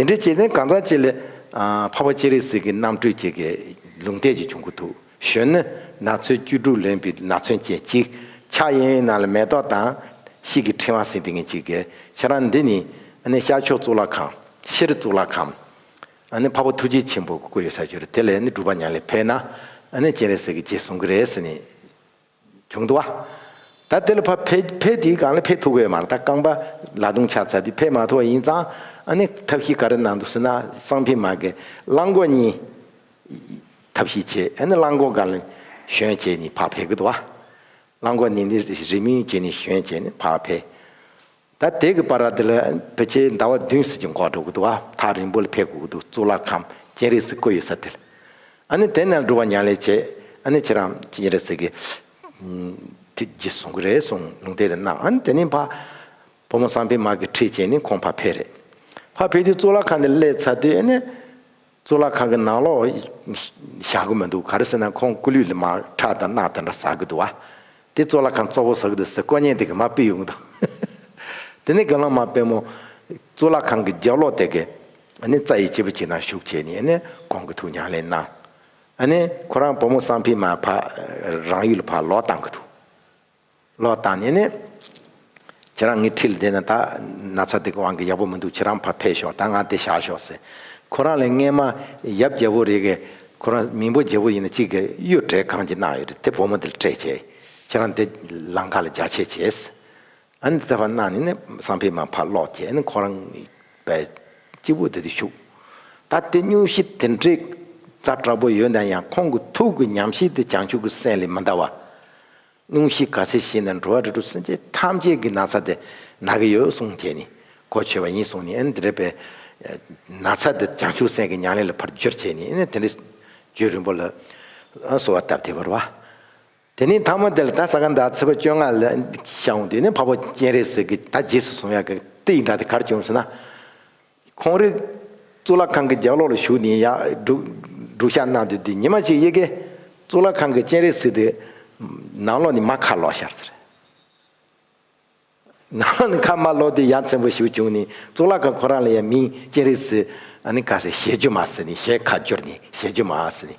དེ་འདྲའི་བྱེད་ལྡན་གང་ཟག་གཅིག་ལས། འཕགས་པ་ཅི་རིགས་གཟིགས་ཀྱི་རྣམ་སྤྲུལ་གྱི། ལུང་བསྟན་གྱི་བྱུང་ཁུངས་དུག་ཞོན་ནི། ནགས་ཚོའི་བཅུ་དྲུག་ལོན་པའི་ནགས་ཚོན་ཅན་གཅིག། ཕྱག་གཡས་གཡོན་རྣམས་ལ་མེ་ཏོག་དང། ཤིག་གི་ཕྲེང་བ་ཟིན་ཏེ་ངེད་གཅིག་གི། ཁྱེད་རང་འདི་ནི། ཤར་ཕྱོགས་གཙུག་ལག་ཁང། ཕྱིར་གཙུག་ལག་ཁང། འཕགས་པ་ཐུགས་རྗེ་ཆེན་པོ་སྐུ་ཡོད་ས་བྱོན། དེ་ལས་ནི་སྒྲུབ་པ་ཉག་ལས་འཕེལ་ན། ཅན་རེ་ཟིག་གིས་རྗེས་བཟུང་གི་རེད། བྱུང་འདུག་བ། ད་དེ་ལ་ཕ་ཕེ་ཕེ་དེའི་སྒང་ལ་ཕེ་ཐུག་བས་མ་རེད་ད་རྐང་པ་ལ་རྡུང་ཆགས་ཚར་དུས་ཕེ་མ་ཐུག་བ་ཡིན་ཙང་ཨ་ནེ་ཐབས་ཤེས་ག་རེ་གནང་འདུག་ཟེར་ན་སང་ཕི་མ་གི་གླང་གོག་གཉིས་ཐབས་ཤེས་བྱས་ཨ་ནེ་གླང་གོག་ག་ལ་ཞོན་བྱས་ནས་ཕ་ཕེ་གི་འདུག་བ། གླང་གོག་ནི་ནི་རི་མོའི་རྗེས་ནས་ཞོན་བྱས་ནས་ཕ་ཕེ། ད་ལྟའི་གི་པར་ར་འདི་ལ་བོད་ཆས་ཟླ་བ་བདུན་ཟེར་གྱི་འགོག་འགྲོ་གི་འདུག་ཨ་ཐག་རིང་པོ་ལ་ཕེབས་དགོས་ཀྱི་འདུག་གཙུག་ལག་ཁང་སྤྱན་རས་གཟིགས་བཀོད་ཡོད་ས་དེ་ལ། ཨ་ནི་དེ་ནས་འགྲུལ་བ་མྱང་ལས་བྱས་ཨ་ནི་ཁྱེད་རང་སྤྱན་རས་གཟིགས་ཀྱི་ཐིག་བརྒྱུད་བཟུང་གི་རེད་གསུང་ལུང་དེ་རེ་གནང་ཨ་ནི་དེ་ནས་ཕ་བུ་མོ་བསམ་འཕེལ་མ་གི་ཁྲིད་བྱས་ནས་ཁོང་ཕ་ཕེབས་རེད་ཕ་ཕེབས་དུས་གཙུག་ལག་ཁང་དེ་སླེབས་ཚར་དུས་ཨ་ནི། གཙུག་ལག་ཁང་གི་ནང་ལོགས་བཞག་གི་མི་འདུག་ག་རེ་ཟེར་ན་ཁོང་སྐུ་ལུས་ལ་མ་ཁྲག་དང་རྣག་དེ་འདྲ་ཟག་གི་འདུག་བ། དེ་གཙུག་ལག་ཁང་གཙོ་བོ་ཟག་གི་འདུག་ཟེར་དཀོན་གཉེར་དེ་གི་མ་སྤེལ་ཡོང་གི་འདུག་དེ་ནས་དགེ་སློང་མ་དཔལ་མོ། གཙུག་ལག་ཁང་གི་རྒྱབ་ལོགས་དེ་གི། རྩ་ཡི་སྤྱིལ་བུ་གཅིག་ན་བཞུགས་བྱས་ནས་གོང་གི་ཐུགས་ཉམས་ལེན་གནང། ཁོ་རང་བུ་མོ་གསང་ཕིང་མ་ཕ་རང་ཡུལ་ལ་ཕར་ལོག་བཏང་གི་འདུག། ལོག་ལྟ་ནི་ནི། ཁྱེད་རང་ངའི་འཁྲིས་ལ་བསྡད་ན་ད། ན་ཚ་འདི་གི་དབང་གིས་ཡག་པོ་མི་འདུག་ཁྱེད་རང་ཕར་ཕེབས་ཤོག་ད་ང་འདི་བཞག་ཤོག་ཟེར། ཁོ་རང་ལས་སྔས་མ། ཡབ་རྒྱལ་པོ་རེད། ཁོ་རང་མིང་པོ་རྒྱལ་པོ་ཡིན་ན་གཅིག་གིས་གཡུ་བྲེ་གང་ཅི་གནང་ཡོད་རེད་དེ་བུ་མོ་འདི་ལ་སྤྲད་བྱས། ཁྱེད་རང་འདི། ལང་ཀ་ལ་རྒྱག་ཆས་བྱས། ཨ་ནི་འདི་ལྟ་བར་གནང་ནི་ནི་བསམ་ཕེབས་མ་ཕར་ལོག་ཁྱེད་ནི་ཁོ་རང། པའི། སྐྱིད་པོ་འདི་དུ་བཞུགས། ད་དེ་སྙུང་གཞི་དེ་འདྲའི། རྩ་དྲག་པོ་ཡོད་ན་ཡང་ཁོང་གི་ཐུགས་ཀྱི་ཉམས་བཞེས་དེ་བྱང་ཆུབ་ཀྱི་སེམས་ལས་མི་འདའ་བ། རླུང་ཤིག་ག་ཚེ་ཤིག་ན་འགྲོ་བ་རིགས་དྲུག་སེམས་ཅན་ཐམས་ཅད་ཀྱི་ན་ཚ་དེ་ན་གི་ཡོད་གསུངས་དེ་ནི་གོ་ཆོད་པ་ཡིན་གསུངས་ནས་ཨེ་འདྲེས་པའི་ན་ཚ་དེ་བྱང་ཆུབ་སེམས་ཀྱི་མྱང་ལས་ལ་ཕར་བསྒྱུར་བྱས་ནས་ཨེ་ནི་དེ་འདྲའི་རྒྱུད་རིང་པོ་ལ་གསོལ་བ་བཏབ་སྟེ་བར་བ། དེ་ནས་ཐ་མ་དེ་ལ་ད་ས་ག་ཟླ་ཚེས་པ་བཅོ་ལྔ་ལ་ཤངས་འོངས་དུས་ནི་འཕགས་པ་སྤྱན་རས་གཟིགས་ཀྱིས་ད་རྗེས་སུ་གསུང་ཡག་གི་ཏི་ཡི་འདྲ་དེ་གར་བྱུང་ཟེར་ན། ཁོང་རིག། གཙུག་ལག་ཁང་གི་ལྗགས་ལོགས་ལ་བཞུགས་ནས་ཡར་སྒྲུག་བཤགས་གནང་དུས་དུས་ཉི་མ་གཅིག་ཡེ་གེ། གཙུག་ལག་ཁང་གི་སྤྱན་རས་གཟིགས་དེ། ནང་ལོགས་ནས་མ་ཁ་ལོག་ཤར་ཟེར། ནང་ལོགས་ནས་ཁ་མ་ལོག་དུས་ཡ་མཚན་པོ་ཞིག་བྱུང་ནས་གཙུག་ལག་ཁང་ཁོ་རང་ལ་ཡང་མིང་སྤྱན་རས་གཟིགས། ཨ་ནི་ཀ་ཟེར་ཞལ་བསྒྱུར་མ་ཟེར་ནས་ཞལ་ཁ་བསྒྱུར་ནས་ཞལ་བསྒྱུར་མ་ཟེར་ནས།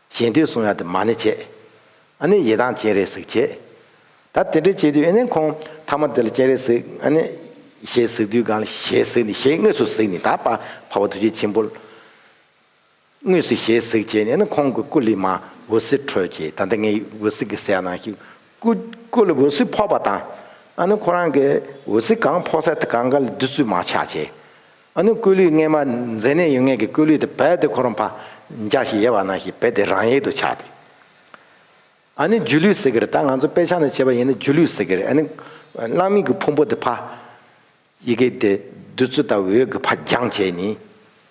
གཞན་དུས་གསུང་ཡང་དེ་མ་ནི་བྱེད། ཨ་ནི་ཡི་དྭགས་སྤྱན་རས་གཟིགས་བྱེད། ད་དེ་འདྲ་བྱེད་དུས་ཨ་ནི་ཁོང་ཐ་མ་དེ་ལ་སྤྱན་རས་གཟིགས་ཨ་ནི། ཞེས་གཟིགས་དུས་གང་ལ་ཞེས་གཟིགས་ནས་ཞེས་དངོས་སུ་གཟིགས་ནས་ད་བ་བ་བ་དུ་བྱེད་ཆེན་པོ། དངོས་སུ་ཞེས་གཟིགས་བྱས་ནས་ཨ་ནི་ཁོང་གི་སྐུ་ལི་མ་འོད་ཟེར་འཕྲོས་བྱས་ད་ལྟ་ངའི་འོད་ཟེར་གྱི་སའི་ནང་ཞིག་སྐུ། སྐུ་ལ་འོད་ཟེར་ཕོག་པ་དང། ཨ་ནི་ཁོ་རང་གི་འོད་ཟེར་གང་ཕོག་སའི་གངྒཱ་ལ་བདུད་རྩི་མ་ཆགས་བྱས། ཨ་ནུ་སྐུ་ལུས་སྔས་མ་མཛེ་ནད་ཡུལ་སྔས་ཀྱི་སྐུ་ལུས་དེ་བད་དེ་ཁོ་རང་ཕ་རྒྱག་ཞིག་ཡེ་བ་ན་ཞིག་བད་དེ་རང་ཡལ་དུ་ཆགས་ཏེ། ཨ་ནུ་སྒྱུ་ལུས་ཟེར་གི་རེད་ད་ང་ཚོ་དཔེ་ཆ་ནས་བྱས་པ་ཡིན་ན་སྒྱུ་ལུས་ཟེར་གི་རེད་ཨ་ནུ། གླང་མིག་གི་ཕུང་པོ་དེ་ཕ། ཡི་གེ་དེ་བདུད་རྩི་ལྟ་བུའི་འོད་ཀྱི་ཕ་རྒྱངས་བྱས་ནས།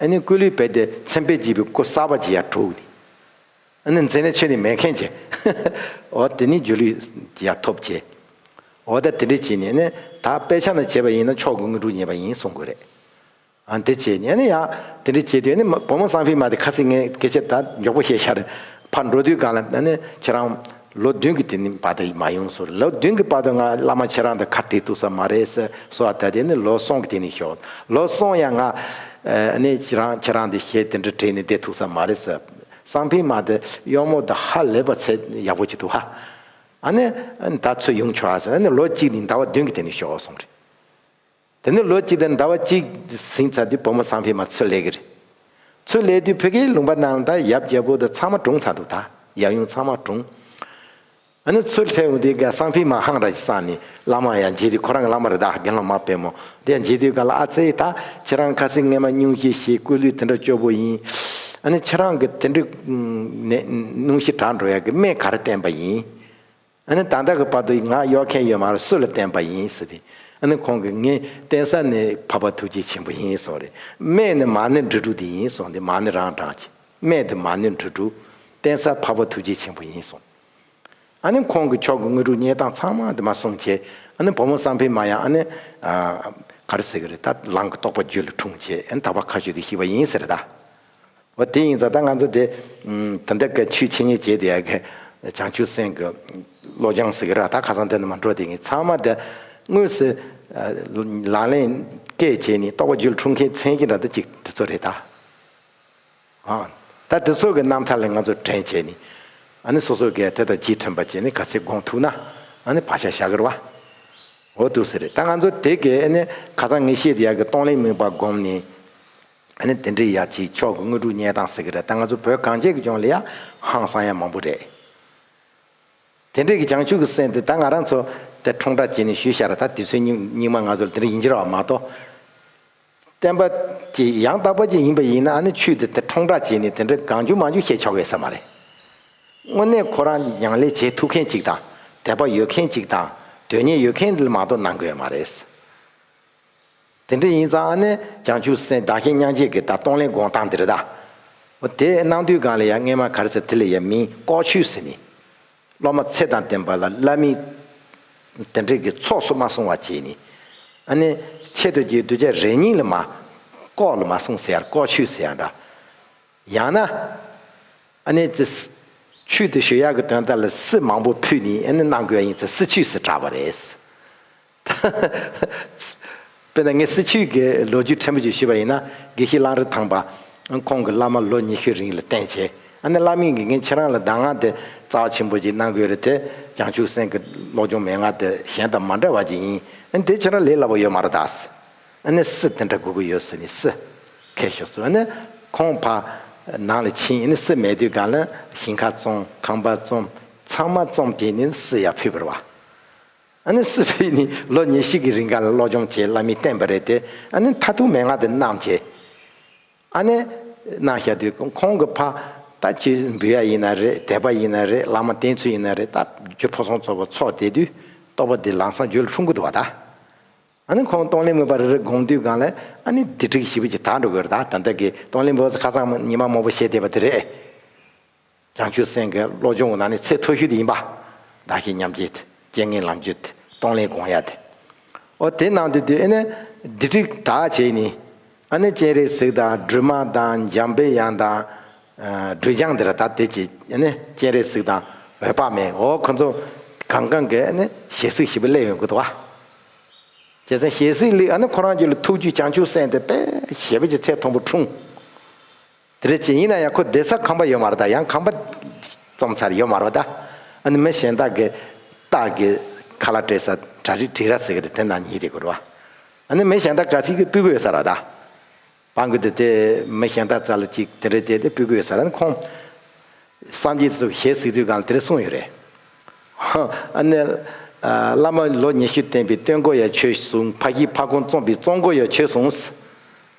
ཨ་ནུ་སྐུ་ལུས་བད་དེ་མཚན་དཔེ་བགྱིས་པའི་སྐུ་གསར་པ་ཅིག་ཡར་དྲུག་ནས། ཨ་ནི་མཚན་ནི་ཆོས་ནི་མེད་མཁན་གྱི། འོ་དེ་ནི་སྒྱུ་ལུས་ཀྱི་ཡང་ཐོབ་བྱེད། འོ་ད་དེ་འདྲའི་བྱེད་ནི་ནི་ད་དཔེ་ཆ་ན་བྱེད་པ་ཡིན་ན་ཕྱོགས་དགུ་དངོས་གྲུབ་ཉེས་པ་ཡིན་གསུང་དགོས་རེད། ཨ་དེ་བྱེད་ནི་ཨ་ནི་ཡང་དེ་འདྲའི་བྱེད་དུས་ནི་བུ་མོ་སངས་ཕི་མ་དེ་ཁ་སིང་ངའི་སྐད་ཆ་ད་མགྱོགས་པོ་བཤད་ཤར། ཕར་འགྲོ་དུས་གང་ལ་ཨ་ནི་ཁྱེད་རང། ལོ་བདུན་གྱི་དེ་ནི་བར་དུ་མ་ཡོང་ཟུར་ལོ་བདུན་གྱི་བར་དུ་ང་བླ་མ་ཁྱེད་རང་དང་ཁ་བྲལ་ཐུབ་ས་མ་རེད་ཟེར་གསུང་བ་ད་དེ་ནི་ལོ་སོང་གི་དེ་ནི་ཞོག་ལོ་སོང་ཡང་ང། ཨ་ནི་ཁྱེད་རང་ཁྱེད་རང་དེ་ཞེ་དེ་འདྲ་བྲལ་ནི་བསྡད་ཐུག་ས་མ་རེད་ཟེར། གསང་ཕིང་མ་དེ་གཡོག་མོ་དང་ཧ་ལས་པ་ཚད་ཡག་པོ་གྱི་འདུག་ཧ། ཨ་ནི་ད་ཚོད་ཡོང་ཆོག་ཨ་ཟེར་ཨ་ནི་ལོ་གཅིག་དེ་ཟླ་བ་བདུན་གྱི་དེ་ནས་ཤོག་ཨོ་གསུངས་རེད། དེ་ནས་ལོ་གཅིག་དེ་ཟླ་བ་གཅིག་ཟིན་ཚར་དུས་བུ་མོ་གསང་ཕིང་མ་ཚོད་ལས་ཀྱི་རེད། ཚོད་ལས་དུས་བུ་གའི་ལུང་པ་ནང་དང་ཡབ་རྒྱལ་པོ་དང་ཚང་མ་གྲོངས་ཚར་འདུག་ད་ཡབ་ཡུམ་ཚང་མ་གྲོངས། ཨ་ནི་ཚུར་སླེབས་འོང་དུས་གསང་ཕིང་མ་ཧང་ར་ཅི་སང་ནི་བླ་མ་ཡང་མཇལ་དུས་ཁོ་རང་གི་བླ་མ་རི་དྭགས་དགེ་སློང་མ་དཔལ་མོ་དེ་མཇལ་དུས་ག་ལ་ཨ་ཙེ་ད་ཁྱེད་རང་ཁ་སིང་ངེ་མ་སྙུང་ཤིག་ཞེས་སྐུ་ལུས་དེ་འདྲ་སྐྱོ་པོ་ཡིན། ཨ་ནི་ཁྱེད་རང་གི་དེ་འདྲི་ནས་སྙུང་ཤིག་དྲག་འགྲོ་ཡ་གི་སྨད་ག་རེ་བསྟན་པ་ཡིན། ཨ་ནི་ད་ལྟ་གི་བར་དུ་ང་གཡོག་མཁན་ཡོད་མ་རེད་སུ་ལ་བསྟན་པ་ཡིན་ཟེར་དུས་ཨ་ནི་ཁོང་གིས་ངས་བསྟན་ས་ནི་བྷ་བྷ་ཐུགས་རྗེ་ཆེན་པོ་ཡིན་གསུངས་རེད་སྨད་ནི་མ་ནི་འབྲི་དྲུག་དེ་ཡིན་གསུངས་ཏེ་མ་ནི་རང་བསྒྲགས་ཀྱིས་སྨད་དེ་མ་ནི་འབྲི་དྲུག་བསྟན་ས་བྷ་བྷ་ཐུགས་རྗེ་ཆེན་པོ་ཡིན་གསུངས། ཨ་ནི་ཁོང་གི་ཕྱོགས་ཀྱི་དངོས་གྲུབ་བརྙེས་སྟངས་ཚང་མ་དེ་མ་སོང་བྱས་ཨ་ནི་བུ་མོ་བསམ་འཕེལ་མ་ཡང་ཨ་ནི། ག་རེ་ཟེར་གི་རེད་ད་ལང་གི་རྟོགས་པ་རྒྱུད་ལ་འཁྲུངས་བྱས་ཨ་ནི་ད་བར་ཁ་ཤོས་དེ་ཤི་བ་ཡིན་ཟེར་ད། འོ་དེ་ཡིན་ཙང་ད་ང་ཚོ་དེ། ད་འདི་ག་ཆུའི་ཆེ་ཉེ་བྱས་དེ་ཡ་གི། བྱང་ཆུབ་སེམས་ཀྱི། བློ་སྦྱང་ཟེར་གི་ར་ད་ཁ་སང་དེ་ནི་མ་འགྲོ་དེ་ངས་ཚང་མ་དེ། དངོས་སུ། ལག་ལེན། སྐད་བྱས་ནས་རྟོགས་པ་རྒྱུད་ལ་འཁྲུངས་མཁན་མཚན་གྱི་ར་ད་ཅིག་དེ་ཚོ་རེད་ད། ཨ། ད་དེ་ཚོ་གི་རྣམ་ཐར་ལས་ང་ཚོ་དྲན་བྱས་ནས། ཨ་ནི་སོ་སོ་གས་དེ་དང་ཅིས་དྲན་པ་བྱས་ནས་ག་ཚད་དགོངས་ཐུག་ན། ཨ་ནི་བག་ཆགས་ཞག་གི་ར་བ། འོ་ཐུག་ཟེར་རེད་ད་ང་ཚོ་དེ་གས་ཨ་ནི་ག་ཚང་ངེས་ཤེས་དེ་ཡག་གི་སྟོང་ལེན་དམིགས་པ་བསྒོམས་ནས། ཨ་ནི་དེ་འདྲའི་ཡག་ཅིག་ཆོག་གི་དངོས་གྲུབ་བརྙེས་སྟངས་ཟེར་གི་ར་ད་ང་ཚོ་བོད་གངས་ཅན་གི་ལྗོངས་ལ་ཡ་ཧང་སང་ཡ་མང་པོ་རེད། དེ་འདྲས་གི་བྱང་ཆུབ་ཀི་སེམས་དེ་ད་ང་རང་ཚོ་དེ་ཁྲོང་བསྒྲགས་བྱས་ནས་ཞུས་ཤག་ར་ད་དེ་ཚོའི་སྙིང་སྙིང་མ་ང་ཚོ་ལ་དེ་འདྲ་ཡིན་གྱི་ར་བ་མ་གཏོགས། བསྟན་པ། ཅེས་ཡང་དག་པ་ཅན་ཡིན་པ་ཡིན་ན་ཨ་ནུ་ཆོས་འདི་དེ་ཁྲོང་བསྒྲགས་བྱས་ནས་དེ་འདྲ་གང་བྱུང་མ་བྱུང་བཤད་ཆོག་གེ་ས་མ་རེད། དངོས་གནས་ཁོ་རང་མྱང་ལས་བྱེད་ཐུབ་མཁན་ཅིག་དང་དད་པ་ཡོད་མཁན་ཅིག་དང་དོན་གཉེར་ཡོད་མཁན་མ་གཏོགས་གནང་དགོས་མ་རེད། དེ་འདྲ་ཡིན་ཙང་ཨ་ནེ་བྱང་ཆུབ་སེམས་བདག་གཞན་མྱང་བྱེད་ཀྱི་ད་གཏོང་ལེན་དགོངས་སྟངས་འདི་རེད་ད། དེ་གནང་དུས་གང་ལ་ཡང་རྔན་མ་གར་ཟེར་དེ་ལ་ཡང་མིན་ལྐོག་ཆོས་ཟེར་ནི། སློབ་མ་ཚེ་དང་ལྡན་པ་ལ་བླ་མེད་དེ་འདྲས་ཀྱི་ཚོགས་སུ་མ་གསུང་བ་བྱས་ནས། ཨ་ནི། ཆེ་བསྟོད་ཀྱི་གདུལ་བྱ་རེ་གཉིས་ལ་མ། ལྐོག་ལ་མ་གསུངས་ཟེར་ཡང་ལྐོག་ཆུད་ཟེར་ཡང་འདྲ། ཡང་ན། ཨ་ནི། ཆུད་དེ་ཞོལ་གཡག་གི་དོན་ལྟར་ལ་སྲི་མང་པོ་ཕུད་ནས་ཨ་ནི་གནང་དགོས་ཡིན་ཚེ་སྲི་ཆུད་ཟེར་གྲགས་པ་རེད། དཔེར་ན་ངས་སྲིད་བྱུས་ཀྱི་ལོ་རྒྱུས་ཕྲན་བུ་ཞིག་ཞུས་པ་ཡིན་ན། དགེ་བཤེས་གླང་རི་ཐང་པ་ཁོང་གི་བླ་མ་ལོ་ཉི་ཤུའི་རིང་ལ་བསྟེན་བྱས། ཨ་ནེ་བླ་མའི་དགེ་རྒན་ཁྱེད་རང་ལ་གདམས་ངག་དེ་རྩ་བ་ཆེན་པོ་ཅིག་གནང་དགོས་རེད་དེ། བྱང་ཆུབ་སེམས་ཀྱི་ཀློག་སྦྱོང་མན་ངག་དེ་གཞན་དང་མ་འདྲ་བ་ཅིག་ཡིན། ཨ་ནེ་དེ་ཁྱེད་རང་ལས་སླ་པོ་ཡོད་མ་རེད་དཱ། ཨ་ནེ་སི་དེ་འདྲ་དགོས་ཀྱི་ཡོད་ཟེར་ནས་སི་ཁས་ཤོར་སོང། ཨ་ནེ་ཁོང་ཕ་ནང་ལ་ཕྱིན་ཨ་ནེ་སི་མལ་དུས་སྒང་ལ་ཞིང་ཁ་བཙོང་ཁང་པ་བཙོང་ཚང་མ་བཙོང་བྱས་ནས་སི་ཡར་ཕུད་པར་བ། ཨ་ནི་སི་ཕེ་ནི་ལོ་ཉེར་བཞི་གི་རིང་ག་ལ་སློབ་སྦྱོང་བྱེད་གླ་མི་བརྟན་པ་རེད་དེ་ཨ་ནི་མཐའ་ཐུག་མན་ངག་དེ་གནང་བྱས། ཨ་ནེ། གནང་བཞག་དུས་ཁོང་གི་ཕ། ད་ཁྱི་འབུད་ཡ་ཡིན་ན་རེད་དད་པ་ཡིན་ན་རེད་གླ་མ་བརྟན་ཚུལ་ཡིན་ན་རེད་ད་རྒྱུ་ཕོ་སོང་ཚོ་བ་ཚོགས་བསྡད་དུས་ཏོག་པ་དེ་ལང་སང་རྒྱུ་ལ་ཁྲུང་ཁུ་འདུག་བ་ད། ཨ་ནི་ཁོང་སྟོང་ལིན་མོ་པ་རེ་རེ་དགོངས་དུས་གང་ལེ་ཨ་ནི་དི་ཁྲིག་ཞི་བུ་ཅིག་དག་འགྲོ་དགོས་རེད་ད་ད་འདི་གི་སྟོང་ལིན་མོ་ཁ་སང་ཉི་མ་མོ་པོ་བཤད་བསྡད་པ་དེ་རེད། བྱང་ཆུབ་སེམས་ཀྱི་བློ་སྦྱོང་བ་ན་ནི་ཚད་མཐོ་ཤོས་དེ་ཡིན་པ། བདག་གཞན་མཉམ་བརྗེ་སྟེ་རྐྱེན་ངན་ལམ་བརྗོད་དེ་གཏོང་ལེན་དགོངས་ཡ་དེ། འོ་དེ་ནང་དུ་དེ་ཨེ་ནས་དེ་ཁྲིག་དག་བྱས་ནས། ཨ་ནི་སྤྱན་རས་གཟིགས་དང་སྒྲོལ་མ་དང་འཇམ་དཔལ་དབྱངས་དང། སྒྲོལ་སྦྱངས་དེ་ར་ད་དེ་བྱས་ཨེ་ནས་སྤྱན་རས་གཟིགས་དང་འོད་དཔག་མེད་འོ་ཁོ་ཚོ། གང་གང་གི་ཨེ་ནས་ཞལ་གཟིགས་ཞིབ་པོ་གླེགས་ཡོང་དགོས་དོ། བྱས་ཙང་ཞལ་གཟིགས་གླེགས་ཨ་ནི་ཁོ་རང་རྒྱུད་ལ་ཐུགས་རྒྱུད་བྱང་ཆུབ་སེམས་དེ་དཔལ་ཞེ་པོ་ཀྱི་ཚད་མཐོན་པོ་འཁྲུངས། དེ་རེད་ཅེས་ཡིན་ན་ཡང་ཁོ་བསྡད་ས་ཁང་པ་ཡོད་མ་རེད་ད་ཡང་ཁང་པ་རྩོམ་ཚར་ཡོད་མ་རེད་ད། ཨ་ནི་མི་གཞན་དག་གི་སྟག་གི་ཁ་ལ་སྤྲད་ས་གྲ་རིགས་བྲིས་ར་ཟེར་གི་རེད་དེ་ན་ཉིད་དེ་དགོས་རེད་བ། ཨ་ནི་མི་གཞན་དག་ག་ཚིག་གི་སྤུས་ཀ་ཡོད་ས་ར་ད། པ་འགུལ་དེ་དེ་མི་གཞན་དག་རྩ་ལ་གཅིག་དེ་འདྲའི་དེ་དེ་སྤུས་ཀ་ཡོད་ས་ར་ནི་ཁོང། སངས་རྒྱས་སུ་ཞལ་གཟིགས་དུས་གང་ལ་དེ་རེ་གསུངས་ཡོད་རེད། ཧོ། ཨ་ནི། བླ་མ་ལོ་ཉི་ཤུ་བསྟེན་པའི་སྟོན་འགོ་ཡ་ཆོས་བཟུང་ཕ་གཞིས་ཕ་ཁོང་བཙོངས་པའི་བཙོང་འགོ་ཡ་ཆོས་བཟུང།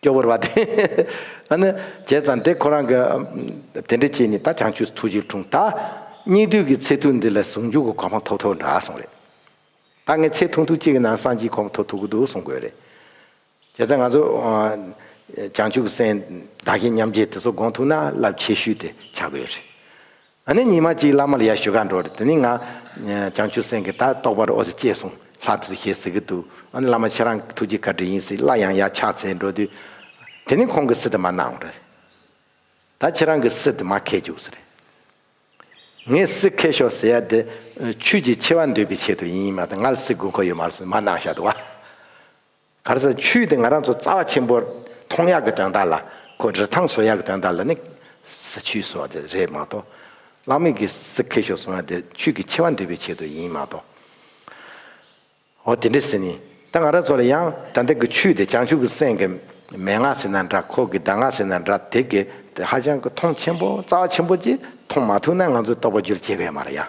སྐྱོ་བོར་བ་དེ། ཨ་ནི། བྱས་ཙང་དེ་ཁོ་རང་གི། དེ་འདྲ་བྱས་ནས་ད་བྱང་ཆུས་ཐུགས་རྗེ་འཁྲུངས། ད། སྙིགས་དུས་ཀྱི་ཚེ་ཐུ་འདི་ལ་ཟུང་འཇུག་གི་གོ་འཕང་ཐོབ་ཐུབ་འདྲ་སོང་རེད། ད་ངས་ཚེ་ཐུང་ཐུང་གཅིག་གི་ནང་སང་ཅིག་གོ་འཕང་ཐོབ་ཐུབ་ཀྱི་འདུག་གསུང་དགོས་རེད། བྱས་ཙང་ང་ཚོ། བྱང་ཆུབ་སེམས། བདག་གཞན་མཉམ་བརྗེ་དེ་ཚོ་དགོངས་ཐུབ་ན་རླབས་ཆེ་ཤོས་དེ་ཆགས་དགོས་རེད། ང་ནི་ཉི་མ་གཅིག་བླ་མ་ལ་ཡར་ཞུ་ག་འགྲོ་རེད་དེ་ནས་ང། བྱང་ཆུབ་སེམས་ཀྱི་ད་རྟོགས་པར་འོ་ཟེར་ཅེས་གསུངས་ལྷག་དུ་ཞེས་ཟེར་གྱི་འདུག་ཨ་ནི་བླ་མ་ཁྱེད་རང་གི་ཐུགས་རྗེ་བཀའ་དྲིན་ཡིན་སྲིད་སླར་ཡང་ཡར་ཕྱག་འཚལ་འགྲོ་དུས། དེ་ནི་ཁོང་གིས་སི་ཏི་མ་གནང་བ་རེད། ད་ཁྱེད་རང་གིས་སི་ཏི་མ་ཁེལ་རྒྱུགས་སུ་རེད། ངས་སི་ཁེལ་ཤོག་ཟེར་ཡ་དེ། ཆོས་ཀྱི་ཆེ་བ་འདོད་པའི་ཆེད་དུ་ཡིན་ཡིན་མ་གཏོགས་ང་ལ་སི་དགོས་མཁོ་ཡོད་མ་རེད་སུ་མ་གནང་ཤག་དུ་བ། ག་རེ་ཟ་ཆུ་དེ་ང་རང་ཚོ་རྩ་བ་ཆེན་པོ་མཐོང་ཡག་གི་དོན་དག་ལ་ཁོ་རི་ཐང་བཟོ་ཡག་གི་དོན་དག་ལ་ནི་ཟ་ཆུའི་བཟོ་བ་དེ་རེད་མ་གཏོགས། གླང་མིག་གི་སི་ཁེ་ཤོག་བཟོ་ན་དེ་ཆུ་གི་ཆེ་བ་འདོན་པའི་ཆེད་དུ་ཡིན་མ་གཏོགས། འོ་དེ་འདྲས་ཟེར་ནི་ད་ང་རང་ཚོ་ལ་ཡང་ད་ལྟ་གི་ཆུ་དེ་བྱང་ཆུབ་ཀྱི་སེམས་ཀྱི་མན་ངག་ཟེར་ན་འདྲ་ཁོག་གི་ཟླ་ངག་ཟེར་ན་འདྲ་དེ་གི་དེ་ཧ་ཅང་གི་མཐོང་ཆེན་པོ་རྩ་བ་ཆེན་པོ་ཅིག་མཐོང་མ་ཐུབ་ན་ང་ཚོ་རྟོགས་པ་བསྒྱུར་བྱེད་ག་ཡ་མ་རེད་ཡ།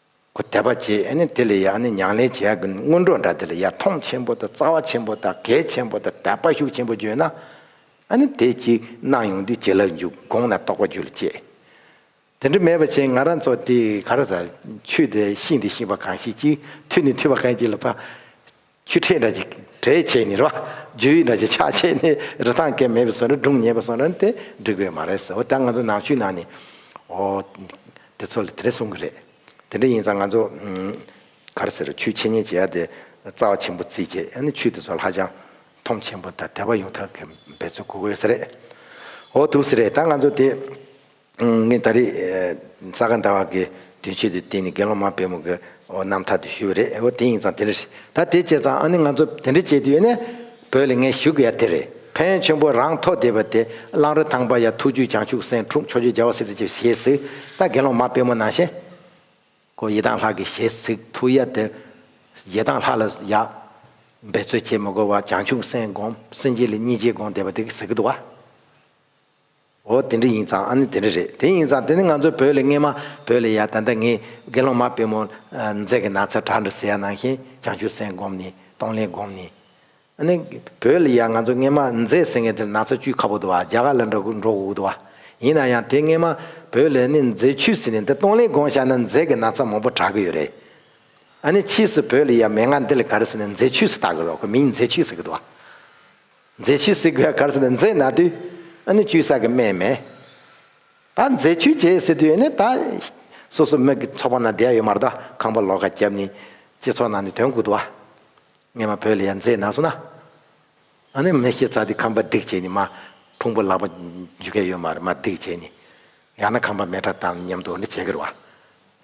ཁོ་དད་པ་བྱེད་ནི་དེ་ལས་ཡང་ནི་མྱང་ལས་བྱེད་ཀྱི་སྔོན་འགྲོ་འདྲ་དེ་ལ་ཡར་མཐོང་ཆེན་པོ་དང་རྩ་བ་ཆེན་པོ་དང་གལ་ཆེན་པོ་དང་དད་པ་ཤུགས་ཆེན་པོ་བརྗོད་ན། དེ་གཅིག་གནང་ཡོང་དུས་ཇི་ལགས་འཇུག་དགོངས་ན་རྟོགས་པ་རྒྱུད་ལ་སྐྱེ། དེ་འདྲ་མེད་པ་ཕྱིན་ང་རང་ཚོ་དེ་ག་ར་ས་ཆུད་དེ་ཤིང་དེ་ཤིང་བ་གང་ཞིག་ཅིག་ཐུད་ནི་ཐུད་བ་གང་ཅིག་ལ་བ། ཆུ་ཕྲན་འདྲ་ཅིག་གྲེ་བྱས་ནས་རོ། རྒྱུ་ཡི་འདྲ་ཅིག་ཆག་བྱས་ནས་རི་ཐང་སྐེམ་མེད་པའི་སོ་ནི་སྦྲུམ་ཉེས་པའི་སོ་ན་ནི་དེ་འགྲིག་པའི་མ་རེད་ཟེར་བ་ད་ང་ཚོ་ནག་ཆུའི་ནང་ནས་ཨོ། དེ་ཚོ་ལ་དེ་འདྲ་གསུང་གི་རེད། དེ་འདྲ་ཡིན་ཙང་ང་ཚོ། ག་རེ་ཟེར་རོ་ཆུའི་འཆད་ཉན་བྱེད་ཡ་དེ་རྩ་བ་ཆེན་པོ་རྩིས་བྱས་ཡ་ནི་ཆུ་དེ་ཚོ་ཧ་ཅང་ཐོམ་ཆེན་པོ་དང་དལ་བ་ཡོང་ཐབས་གི་འབད་རྩོལ་དགོས་གི་ཡོད་ས་རེད། ཨོ་དུག་སེ་རེད་ད་ང་ཚོ་དེ། ངས་ད་རེས་ས་ག་ཟླ་བ་དགའི་དུས་མཆོད་དུ་བསྟེན་ནས་དགེ་སློང་མ་བེམ་གྱི་རྣམ་ཐར་དུ་ཞུས་པ་རེད་འོ་དེ་ཡིན་ཙང་དེ་འདྲ་ཞིག་ད་དེ་བྱས་ཙང་ཨ་ནི་ང་ཚོ་དེ་འདྲ་བྱེད་དུས་ཡོད་ནས་བོད་ལ་ངས་ཞུ་གི་ཡ་དེ་རེད་བན་ཆེན་པོ་རང་ཐོག་བསྡད་པ་དེ་གླང་རི་ཐང་པ་ཡ་ཐུགས་རྒྱུད་བྱང་ཆུབ་སེང་ཕྲུག་མཆོག་ཆོས་རྒྱལ་བ་སིདྡྷི་ཆེ་བ་ཞེས་གཟིགས་ད་དགེ་སློང་མ་བེམ་མོ་ནང་བཞིན་ཁོ་ཡེ་དང་ལྷག་གི་ཞེས་གཟིགས་ཐུགས་ཡ་དེ་ཡེ་དང་ལྷག་ལ་ཡ། འབད་རྩོལ་བྱེད་མི་དགོས་བ་བྱང་ཆུབ་སེང་སྒོམ་སེང་རྗེ་ལ་གཉིས་རྗེས་དགོངས་བསྡད་པ་དེ་གཟིགས་གི་འདུག་བ། འོ་དེ་འདྲ་ཡིན་ཙང་ཨ་ནི་དེ་འདྲ་རེད་དེ་ཡིན་ཙང་དེ་ནི་ང་ཚོའི་བོད་ལས་སྔས་མ་བོད་ལས་ཡག་ད་ལྟ་ངས་དགེ་སློང་མ་དཔལ་མོ་མཛད་ཀྱི་ན་ཚ་གྲགས་འདྲ་ཟེར་ཡག་ནང་བཞིན་བྱང་ཆུབ་སེམས་བསྒོམས་ནས་གཏོང་ལེན་བསྒོམས་ནས། ཨ་ནི་བོད་ལས་ཡག་ང་ཚོ་སྔས་མ་མཛད་ཟེར་མཁན་དེར་ན་ཚ་བཅུད་ཁ་བོ་དུ་བ་རྒྱ་གར་ལ་འགྲོ་འགྲོ་དགོས་དུ་བ། ཡིན་ན་ཡང་དེ་སྔས་མ་བོད་ལས་ནི་མཛད་ཆུད་ཟིན་ནས་འདི་གཏོང་ལེན་བསྒོམ་བཞག་ན་མཛད་ཀྱི་ན་ཚ་མང་པོ་གྲགས་ཀྱི་ཡོད་རེད། ཨ་ནི་ཕྱིས་སུ་བོད་ལས་ཡག་མེད་ང་འདི་ལས་ག་རེ་ཟེར་ནས་མཛད་ཆུད་ཟི་བཏགས་ཀྱི་རོགས་ཁོ་མིང་མཛད་ཆུད་ཟེར་གྱི་དུ་བ། མཛེས་ཆུས་བསིལ་གོས་གར་ཟེར་བའི་མཛེས་ན་དུས་ཨ་ནི་ཆུའི་ས་གི་སྨན་མེད། ད་མཛེས་ཆུ་བྱེད་ཟེར་དུས་ནི་ད། སོ་སོ་མིག་གི་ཚོགས་པ་ན་བསྡད་ཡོད་མ་རེད་ད་ཁང་པ་ལོག་ཁ་བརྒྱབ་ནི། སྤྱི་ཚོགས་ནང་ནས་དོན་གུ་དུ་བ། ངས་མ་བོས་ལ་ཡ་མཛེས་ན་སོང་ན། ཨ་ནི་མི་ཤེས་ཚ་དུས་ཁང་པ་སྡིག་བྱས་ནི་མ། ཕུང་པོ་ལག་པ་འཇུ་ག་ཡོད་མ་རེད་མ་སྡིག་བྱས་ནི། ཡང་ན་ཁང་པ་མེ་ཁྲ་དང་མཉམ་དུ་འོ་འདྲི་བྱེད་ཀིར་བ།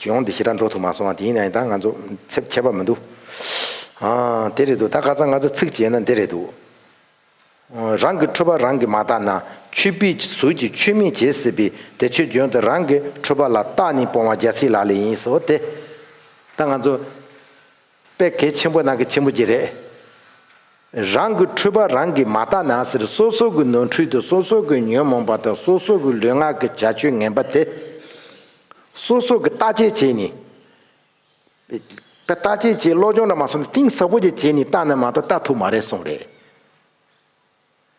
གཞུང་འདི་ཞེ་དྲག་འགྲོ་ཐུབ་མ་སོང་ཨ་དེ་ཡིན་ནའང་ད་ང་ཚོ་ཚེབ་ཁྱད་པར་མི་འདུག་ཨ། དེ་རེད་འདུག་ད་ག་ཚ་ང་ཚོ་ཚིག་བྱས་ན་འདི་རེད་འདུག་ཨ། རང་གི་འཕྲོད་པ་རང་གིས་མ་བརྟགས་ན་ཆོས་པའི་ཟུར་གྱི་ཆོས་མིན་བྱེད་སྲིད་པས་དེ་ཆོས་འབྱོན་དུ་རང་གི་འཕྲོད་པ་ལ་བརྟགས་ནས་སྤོང་བ་རྒྱལ་སྲིད་ལགས་ལས་ཡིན་སོ་དེ། ད་ང་ཚོ། དཔེ་གལ་ཆེན་པོ་ནང་གི་ཆེན་པོ་གཅིག་རེད། རང་གི་འཁྲུལ་པ་རང་གིས་མ་བརྟགས་ན་ཟེར་སོ་སོ་གི་ནོར་འཁྲུལ་དང་སོ་སོ་གི་ཉོན་མོངས་པ་དང་སོ་སོ་གི་ལུས་ངག་གི་བྱ་སྤྱོད་ངན་པ་དེ། སོ་སོ་གི་བརྟག་དཔྱད་བྱས་ནས། བརྟག་དཔྱད་བྱས་བློ་སྦྱོང་འདྲ་མ་སོང་ན་གཏིང་ཟབ་པོ་ཅིག་བྱས་ནས་བརྟགས་ནས་མ་གཏོགས་བརྟགས་ཐུབ་མ་རེད་གསུངས་རེད།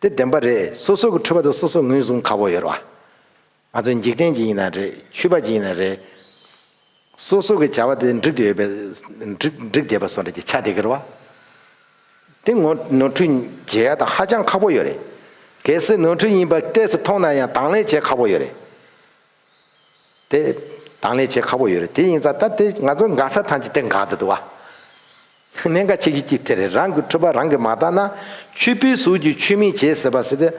དེ་བདེན་པ་རེད་སོ་སོ་གི་འཁྲུལ་པ་དེ་སོ་སོ་ངོས་བཟུང་ཁག་པོ་ཡོད་རེད་བ། ང་ཚོ་འཇིག་རྟེན་གྱི་ཡིན་ན་རེད་ཆུད་པ་གྱི་ཡིན་ན་རེད། སོ་སོ་གི་བྱ་བ་དེ་འགྲིག་དེ་ཡོད་པའི་འགྲིག་འགྲིག་བསྡད་པ་སོགས་རེད་ཀྱི་ཆ་དེ་གི་རེད་བ། དེ་ངོ་ནོར་འཁྲུལ་འཇལ་ཡ་ད་ཧ་ཅང་ཁག་པོ་ཡོད་རེད། གལ་སྲིད་ནོར་འཁྲུལ་ཡིན་པ་གཏད་སོ་མཐོང་ན་ཡང་དང་ལེན་བྱེད་ཁག་པོ་ཡོད་རེད། དེ་དང་ལས་བྱེད་ཁག་པོ་ཡོད་རེད་དེ་ཡིན་ཙང་ད་དེ་ང་ཚོ་འགག་ས་ཐམས་ཅད་དེ་འགག་དུ་འདུག་ཨ། གནད་འགག་ཆེ་གི་གཅིག་དེ་རེད་རང་གི་འཕྲོད་པ་རང་གི་མ་བརྟག་ན་ཆུ་བོའི་ཟུར་གྱི་ཆུ་མིག་བྱེད་ཟེར་བ་སྲིད་དེ།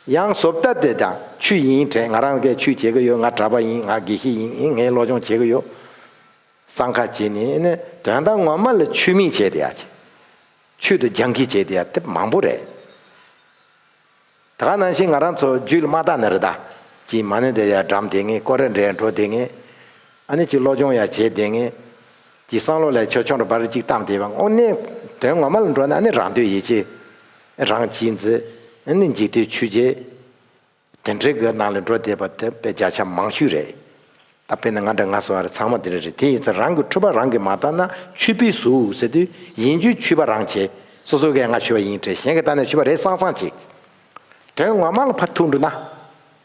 ཡང་བཟོ་བལྟ་དེ་དང་ཆུ་ཡིན་དྲན་ང་རང་སྐད་ཆུ་བྱེད་གི་ཡོད་ང་གྲྭ་པ་ཡིན་ང་དགེ་བཤེས་ཡིན་ངས་སློབ་སྦྱོང་བྱེད་གི་ཡོད། སང་ཁ་བྱེད་ནི་ནི་དོན་དག་ངོ་མ་ལ་ཆུ་མིག་བྱེད་དེ་ཡ། ཆུ་དང་རྒྱང་ཁིས་བྱེད་དེ་ཡ་དེ་མང་པོ་རེད། ད་ག་ནང་བཞིན་ང་རང་ཚོ་རྒྱུད་ལ་མ་བཏགས་ནི་རི་དྭགས་ཀྱིས་མ་ནི་དེ་ཡར་འགྲམ་དེ་ངས་ཀོ་རེར་འདྲེས་འགྲོ་བསྡད་ངེས། ཨ་ནི་ཅིག་བློ་སྦྱོང་ཡར་བྱེད་བསྡད་ངེས། ཀྱི་བསམ་བློ་ལས་ཆོས་ཆུང་རུ་འབར་ཅིག་བཏང་བསྡད་པ་དངོས་གནས། དོན་ངོ་མ་ལ་འགྲོ་ན་ཨ་ནི་རང་འདོད་ཡིད་ཆེས། རང་གཅེས་འཛི། ཨ་ནི་འཇིག་ལྟོས་ཆུད་བྱེད། དེ་འདྲའི་སྒོའི་ནང་ལ་འགྲོ་བསྡད་པ་དེ་དཔེ་བརྒྱ་ཆ་མང་ཤོས་རེད། ད་དཔེར་ན་ང་འདྲ་ང་སོགས་ཨ་རི་ཚང་མ་དེ་འདྲ་རེད་དེ་ཡིན་ཚེ་རང་གི་འཁྲུལ་པ་རང་གིས་མ་བརྟགས་ན་ཆུད་པས་སུ་ཟེར་དུས་ཡིན་རྒྱུའི་ཆུད་པ་རང་བྱེད་སོ་སོ་གས་ང་ཆུད་པ་ཡིན་དྲན་གཞན་གིས་བརྟགས་ན་ཆུད་པ་རེད་སང་སང་བྱེད། དོན་ངོ་མ་ལ་ཕར་ཐུག་འགྲོ་ན།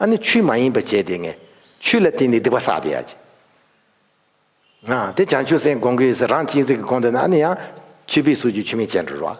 ཨ་ནི་ཆུད་མ་ཡིན་པ་བྱས་ཏེ་ངས་ཆུད་ལ་བརྟེན་ནས་སྡིག་པ་བསགས་ཏེ་ཡ་བྱེད། ང་དེ་བྱང་ཆུབ་སེམས་དགོངས་ཀྱི་ཡོད་ཚེ་རང་གཅིག་འཛིན་གྱི་དགོངས་དོན་ན་ཨ་ནི་ཡང་ཆུད་པས་སུ་རྒྱུ་ཆུད་མེད་བྱས་འགྲོ་རོགས།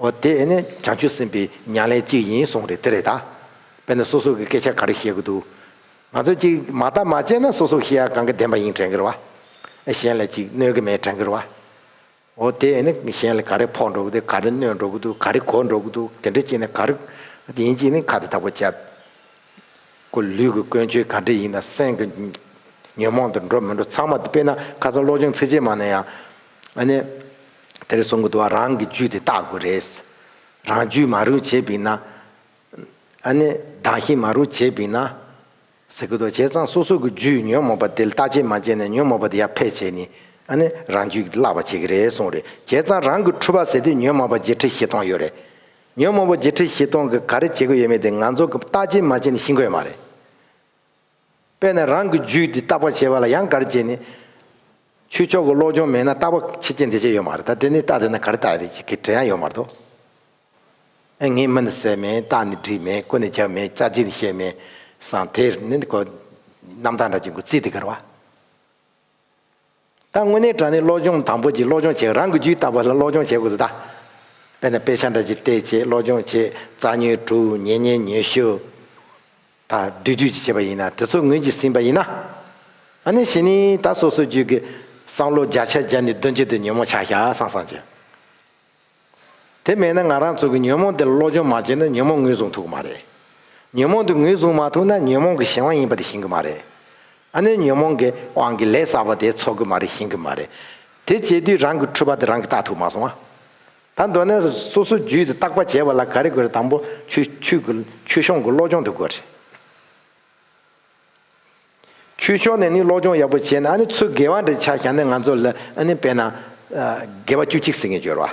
འོ་དེ་ཨེ་ནས་བྱང་ཆུབ་སེམས་དཔའི་མྱང་ལས་གཅིག་ཡིན་གསུངས་རེད་དེ་རེད་ད། དཔེར་ན་སོ་སོ་གི་སྐད་ཆ་ག་རེ་བཤད་གི་འདུག། ང་ཚོ་གཅིག་མ་བརྟག་མ་དཔྱད་ན་སོ་སོ་ཤི་ཡ་གང་གི་བདེན་པ་ཡིན་དྲན་གི་རེད་བ། ཨེ་གཞན་ལ་ཅིག་གནོད་གི་མེད་དྲན་གི་རེད་བ། འོ་དེ་ཨེ་ནས་གཞན་ལ་ག་རེ་ཕོག་འགྲོ་གི་འདུག་ག་རེ་གནོད་འགྲོ་གི་འདུག་ག་རེ་གོ་འགྲོ་གི་འདུག་དེ་འདྲ་ཅིག་ནས་ག་རེ་ཡིན་ཅིག་ནས་ཁ་དེ་དག་པོ་བཅད། ཀུ་ལུས་ཀི་ཀོན་ཆོས་ག་འདྲ་ཡིན་ན་སེམས་ཀི་ཉོན་མོངས་དེ་འགྲོ་མི་འགྲོ་ཚང་མ་དེ་དཔེར་ན་ཁ་སང་བློ་སྦྱོང་ཚིགས་བཅད་མ་ན་ཡང། ཨ་ནེ། དེ་རུ་སོང་གི་འདུག་བ་རང་གི་རྒྱུད་དེ་བརྟག་དགོས་རེད། རང་རྒྱུད་མ་རུ་བྱེད་པིན་ན། ཨ་ནེ། བདག་ཤི་མ་རུ་བྱེད་པིན་ན། ཟེར་གི་འདུག་བྱས་ཙང་སོ་སོ་གི་རྒྱུད་ཉོན་མོངས་པ་དེ་ལྟ་བྱེད་མ་བྱས་ནས་ཉོན་མོངས་པ་དེ་ཡར་འཕེལ་བྱས་ནི། ཨ་ནེ། རང་རྒྱུད་ཀྱི་བརླག་པ་བྱེད་ཀྱི་རེད་གསུངས་རེད་བྱས་ཙང་རང་གི་འཁྲུལ་བ་ཟེར་དུས་ཉོན་མོངས་པ་བརྒྱད་ཁྲི་བཞི་སྟོང་ཡོད་རེད། ཉོན་མོངས་པ་བརྒྱད་ཁྲི་བཞི་སྟོང་གི་ག་རེ་བྱེད་དགོས་ཡོད་མེད་དེ་ང་ཚོ་གི་བརྟག་དཔྱད་མ་བྱས་ནས་ཤི་འགོས་མ་རེད། པས་ན་རང་གི་རྒྱུད་འདི་བརྟག་པར་བྱེད་པ་ལ་ཡང་གར་བྱེད་ནི། ཆོས་ཕྱོགས་ཀྱི་བློ་སྦྱོང་མེད་ན་བརྟག་པ་ཕྱི་རྐྱེན་དེ་བྱས་ཡོད་མ་རེད་ད་དེ་ནི་བརྟག་བྱས་ན་གར་བརྟག་རེད་ཅེས་གི་བྲེལ་ཡང་ཡོད་མ་རེད་དོ། ངས་མི་ནི་བསད་མེད་རྟགས་ནི་སྒྲིབ་མེད་སྐུ་ནི་བྱབས་མེད་བཅའ་བྱེད་ནི་བཤད་མེད་སང་དེར་ནི་གོ། རྣམ་དག་འདྲ་གཅིག་མགོ་བརྩིགས་ཏེ་གར་བ། ད་དངོས་གནས་དྲ་ནས་སློབ་སྦྱོང་དང་པོ་གྱི་སློབ་སྦྱོང་བྱེད་རང་གི་རྒྱུད་ལྟ་བ་ལ་སློབ་སྦྱོང་བྱེད་དགོས་ལ། དཔེར་ན་དཔེ་ཆ་འདྲ་གཅིག་བལྟས་བྱས་སློབ་སྦྱོང་བྱས་རྩ་ཉོན་དྲུག་ཉེ་བསྙེན་ཉོན་ཞི། དང་བསྡུས་བསྡུས་ཀྱིས་བྱས་པ་ཡིན་ན་དེ་ཚོ་ངོས་ཀྱིས་ཟིན་པ་ཡིན་ན། ཨ་ནི་བཞི་ནི་ད་སོ་སོའི་རྒྱུད་ཀྱི་བསམ་བློ་བརྒྱ་ཆ་བརྒྱ་ནི་བདུན་བརྒྱད་དུ་ཉོན་མོངས་ཆགས་ཞག་སངས་སངས་ཀྱི། དེ་མེད་ན་ང་རང་ཚོ་གི་ཉོན་མོངས་དེ་ལ་བློ་སྦྱོང་མ་བྱས་ན་ཉོན་མོངས་ངོས་བཟུང་ཐུབ་ཀྱི་མ་རེད། ཉོན་མོངས་དེ་ངོས་བཟུང་མ་ཐུབ་ན་ཉོན་མོངས་གི་གཞན་དབང་ཡིན་པ་དེ་ཤེས་གི་མ་རེད། ཨ་ནུས་ཉོན་མོངས་གི་དབང་གིས་ལས་བསགས་པ་དེ་ཚོར་གི་མ་རེད་ཤེས་གི་མ་རེད། དེ་བྱས་དུས་རང་གི་འཁྲུལ་པ་དེ་རང་གིས་བརྟག་ཐུབ་མ་སོང་ཨ། ད་མདོར་ན་སོ་སོའི་རྒྱུད་དེ་བརྟག་པ་བྱེད་པ་ལ་ག་རེ་དགོས་རེད་དང་པོ་ཆུ་ཆུ་གི་ཆུ་གཤོང་གི་བློ་སྦྱོང་དེ་དགོས་རེད། ཆོས་ཕྱོགས་ནས་ནི་སློབ་སྦྱོང་ཡག་པོ་བྱས་ན་ནི་ཚུར་དགེ་བ་འདྲ་ཆགས་ཀྱང་ནི་ང་ཚོ་ལ་ནི་དཔེར་ན། དགེ་བ་བཅུ་གཅིག་ཟེར་མཁན་སྦྱོར་བ།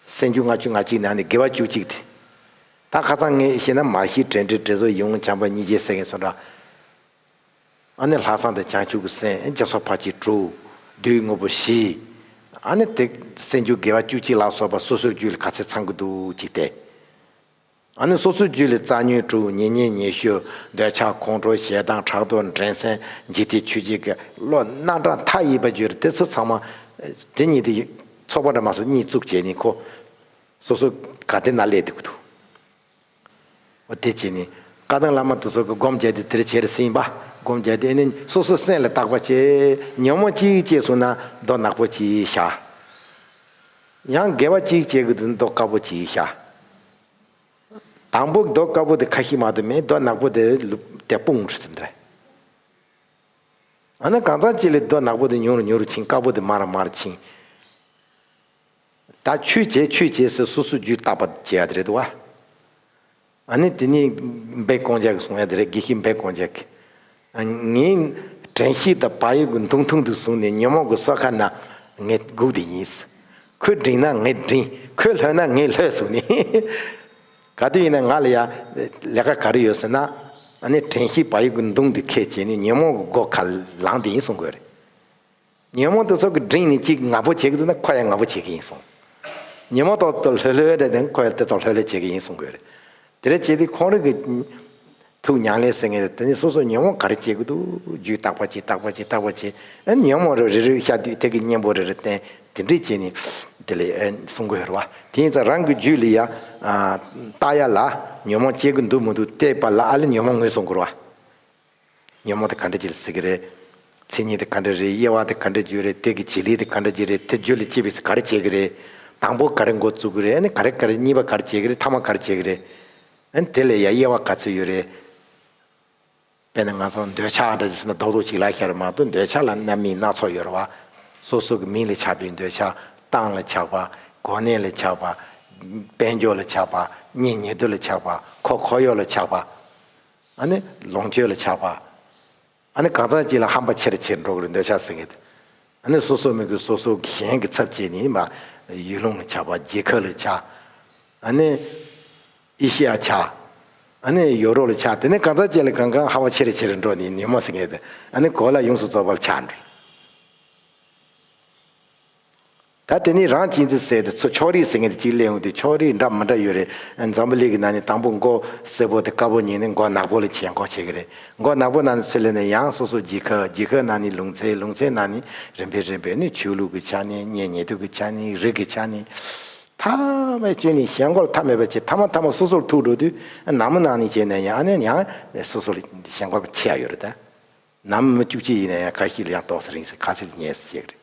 སེམས་རྒྱུད་ལྔ་བཅུ་ང་གཅིག་ནང་ནས་དགེ་བ་བཅུ་གཅིག་དེ། ད་ཁ་ཚང་ངས་བཤད་ན་མ་གཞི་དྲན་འབྲེལ་དྲན་གསོ་ཡིད་འོང་བྱམས་པ་གཉིས་རྗེ་ཟེར་མཁན་ཚོ་འདྲ། ཨ་ནི་ལྷག་བསམ་དང་བྱང་ཆུབ་ཀྱི་སེམས་ཨེ་སྦྱར་སོགས་ཕར་གྱིས་དྲུག། བསྡུས་དངོས་པོ་བཞི། ཨ་ནི་དེ། སེམས་རྒྱུད་དགེ་བ་བཅུ་གཅིག་ལ་སོགས་པ་སོ་སོའི་རྒྱུད་ལ་ག་ཚད་ཚང་གི་འདུག་ཅིག་སྟེ། ཨ་ནི་སོ་སོའི་རྒྱུད་ལས་རྩ་ཉོན་དྲུག་ཉེ་ཉེ་ཉེ་ཤོས་འདོད་ཆགས་ཁོང་ཁྲོ་ཞེ་སྡང་ཕྲག་དོག་འགྲན་སེམས་འཇིག་རྟེན་ཆོས་བརྒྱད་ཀྱི་བློ་སྣ་དགྲ་མཐའ་ཡས་པ་བརྒྱུད་རེ་ཏེ་ཚུལ་ཚང་མ། དེ་གཉིས་དེ་ཚོགས་པ་འདྲ་མ་སོགས་གཉིས་བཙུགས་བྱས་ནི་ཁོ། སོ་སོ་ག་དེ་ན་སླེབས་ཏེ་འདུག། འོ་དེ་བྱས་ནི། བཀའ་ཐང་བླ་མ་དེ་སོགས་ཀྱི་སྒོམ་བྱས་ཏེ་དེར་བྱེར་ཟིན་པ། སྒོམ་བྱས་ཏེ་ཨེ་ནི་སོ་སོའི་སེམས་ལ་བརྟག་པ་བྱས། ཉོན་མོངས་གཅིག་ཅེས་གསུངས་ན་མདོག་ནག་པོ་གྱིས་བྱ། ཡང་དགེ་བ་གཅིག་བྱེད་ཀྱི་འདུག་མདོག་དཀར་པོ་གྱིས་ཤ། དང་པོ་མདོག་དཀར་པོ་དེ་ཁ་ཤི་མ་དུ་མས་རྡོ་ནག་པོ་དེ་རུ་ལུབ་སྟེ་སྤུངས་རུ་ཟིན། འོ་ན་གང་ཚང་ཅི་ལས་རྡོ་ནག་པོ་དེ་ཉུང་རུ་ཉུང་རུ་ཕྱིན་དཀར་པོ་དེ་དམར་རུ་དམར་རུ་ཕྱིན། ད་ཆོས་བྱས་ཆོས་བྱས་ཟེར་སོ་སོ་རྒྱུས་བརྟག་པ་བྱས་ཡ་དེ་རེད་དོ། ཨ་ནི་དེ་ནི་སྦེད་ཀོང་ཇག་གི་གསུང་ཡ་དེ་རེད་གེ་ཤི་སྦེད་ཀོང་ཇག་གིས། ངའི་དྲན་ཤེས་དང་བག་ཡོད་ཀྱི་འཐུང་འཐུང་དུ་བཟུང་ནས་ཉོན་མོངས་ཀྱི་སོ་ཁ་ན་ངས་སྒུག་དེ་ཡིན། ཁོས་བསྒྲིངས་ན་ངས་བསྒྲིངས་ཁོས་ལྷོད་ན་ངས་ལྷོད་ཟུག་ནས། ག་དུས་ཡིན་ན་ང་ལ་ཡ་ལས་ཀ་ག་རེ་ཡོད་ཟེར་ན། ཨ་ནི་དྲན་ཤེས་བག་ཡོད་ཀྱི་མདུང་དེ་ཁས་བྱས་ནས་ཉོན་མོངས་ཀྱི་སྒོ་ཁ་ལངས་དེ་ཡིན་གསུང་དགོས་རེད། ཉོན་མོངས་དེ་ཚོགས་ཀྱི་འབྲིང་ནི་གཅིག་ང་པོ་བྱེད་ཀྱི་འདུག་ན་ཁོ་ཡང་ང་པོ་བྱེད་ཀྱི་ཡིན་གསུངས། ཉོན་མོངས་དང་དང་ལྷོད་ལྷོད་རེད་ན་ཁོ་ཡང་དེ་དང་ལྷོད་ལྷོད་བྱེད་ཀྱི་ཡིན་གསུང་དགོས། དེ་རེད་བྱས་དུས་ཁོང་རིགས་ཀྱི། ཐུགས་མྱང་ལེ་ཟེར་ངེས་རེད་དེ་ནས་སོ་སོ་ཉོན་མོངས་ག་རེ་བྱེད་ཀྱི་འདུག་རྒྱུས་བརྟག་པར་བྱེད་བརྟག་པར་བྱེད་བརྟག་པར་བྱེད། ཨེ་ཉོན་མོངས་རེ་རེ་རིགས་ཤར་དུས་དེ་གི་གཉེན་པོ་རེ་རེ་བསྟན་དེ་འདྲི་བྱས་ནས། དེ་ལས་གསུང་དགོས་རེད་བ། དེ་ཡིན་ཙང་རང་གི་རྒྱུད་ལས་ཡ། བརྟག་ཡ་ལ། ཉོན་མོངས་བསྐྱེད་ཀྱི་འདུག་མི་འདུག་བལྟས་པ་ལ་ཨ་ལས་ཉོན་མོངས་ངོས་བཟུང་དགོས་རེད་བ། ཉོན་མོངས་དེ་ག་འདྲ་བགྱི་ལ་སྲིད་ཀྱི་རེད། མཚན་ཉིད་དེ་ག་འདྲ་རེད་དབྱེ་བ་དེ་ག་འདྲ་བརྗོད་རེད་གཏེར་གྱི་བྱེད་ལས་དེ་ག་འདྲ་བགྱི་རེད་དེ་བརྗོད་ལས་ཅེས་པས་སུ་ག་རེ་བྱེད་ཀྱི་རེད། དང་པོ་ག་རེ་འགོ་བཙུགས་ཀྱི་རེད་ཨ་ནི་ག་རེ་ག་རེ་གཉིས་པ་ག་རེ་བྱེད་ཀྱི་རེད་ཐ་མ་ག་རེ་བྱེད་ཀྱི་རེད། ཨ་ནི་དེ་ལས་ཡང་དབྱེ་བ་ག་ཚོད་ཡོད་རེད། དཔེར་ན་ང་ཚོ་འདོད་ཆགས་འདྲ་བྱས་ཟིན་ན་རྡོག་རྡོག་ཅིག་ལ་ཤར་བ་མ་གཏོགས་འདོད་ཆགས་ལ་རྣམ་སྨིན་སྣ་ཚོགས་ཡོད་རེད་བ། སོ་སོ་གི་མིང་ལས་ཆགས་པའི་འདོད་ཆགས། སྟངས་ལས་ཆགས་པ། གོ་གནས་ལས་ཆགས་པ། དཔལ་འབྱོར་ལས་ཆགས་པ། གཉེན་ཉེ་དུ་ལས་ཆགས་པ། ཁོག་ཁོག་གཡོག་ལས་ཆགས་པ། ལོངས་སྤྱོད་ལ་ཆགས་པ། གང་ཟག་གཅིག་ལ་ཧམ་པ་ཆེ་རུ་ཆེ་རུ་འགྲོ་གི་འདོད་ཆགས་ཟིན་གྱི། སོ་སོ་མི་གུས་སོ་སོ་གཞན་གྱི་ཚབ་བྱེད་ནི་མ། ཡུལ་ལུང་ལ་ཆགས་པ་རྗེས་ཁ་ལ་ཆགས། ཨེ་ཤི་ཡ་ཆགས། ཡོ་རོབ་ལ་ཆགས་དེ་ནས་གང་ཟག་གཅིག་ལ་གང་གང་ཧམ་པ་ཆེ་རུ་ཆེ་རུ་འགྲོ་ནི་ནུས་མ་ཟིན་གྱི། གོ་ལ་ཡོངས་སུ་རྫོགས་པ་ལ་ཆགས། ད་དེ་ནི་རང་གཅིག་འཛིན་ཟེར་དེ་ཚོ་ཕྱོགས་རིས་ཟེར་མཁན་དེ་གཅིག་གླེང་འོང་དུས་ཕྱོགས་རིས་འདྲ་མི་འདྲ་ཡོད་རེད་འཛམ་བུ་ལིག་གི་ནང་ནས་དང་པོ་མགོ་སེར་པོ་དེ་དཀར་པོ་གཉིས་ནི་མགོ་ནག་པོ་ལ་བྱེད་འགོག་བྱེད་ཀྱི་རེད་མགོ་ནག་པོ་ནང་ནས་ཚུར་སླེབས་ནས་ཡང་སོ་སོ་བརྗེད་ཁ་བརྗེད་ཁ་ནང་ནས་ལུང་ཚན་ལུང་ཚན་ནང་ནས་རིམ་པས་རིམ་པས་ནི་ཆོས་ལུགས་ཀྱི་ཆ་ནས་གཉེན་ཉེ་དུས་ཀྱི་ཆ་ནས་རིགས་ཀྱི་ཆ་ནས་ཐ་མའི་སྐྱོན་ནི་གཞན་མགོ་ལ་ཐ་མལ་པ་བྱེད་ཐ་མ་ཐ་མ་སོ་སོར་ཐུག་འགྲོ་དུས་ནང་མི་ནང་ནས་བྱེད་ནས་ཡང་ནས་ཡང་སོ་སོ་ལ་གཞན་མགོ་ཕྱེ་ཡག་ཡོད་རེད་ད། ནང་མི་བཅུ་གཅིག་ཡིན་ན་ཡང་ག་ཤེད་ལ་ཡང་དོགས་ཟེར་རིང་ཟེར་ཁ་ཟེར་ཉེས་ཟེར་བྱེད་ཀྱི་རེད།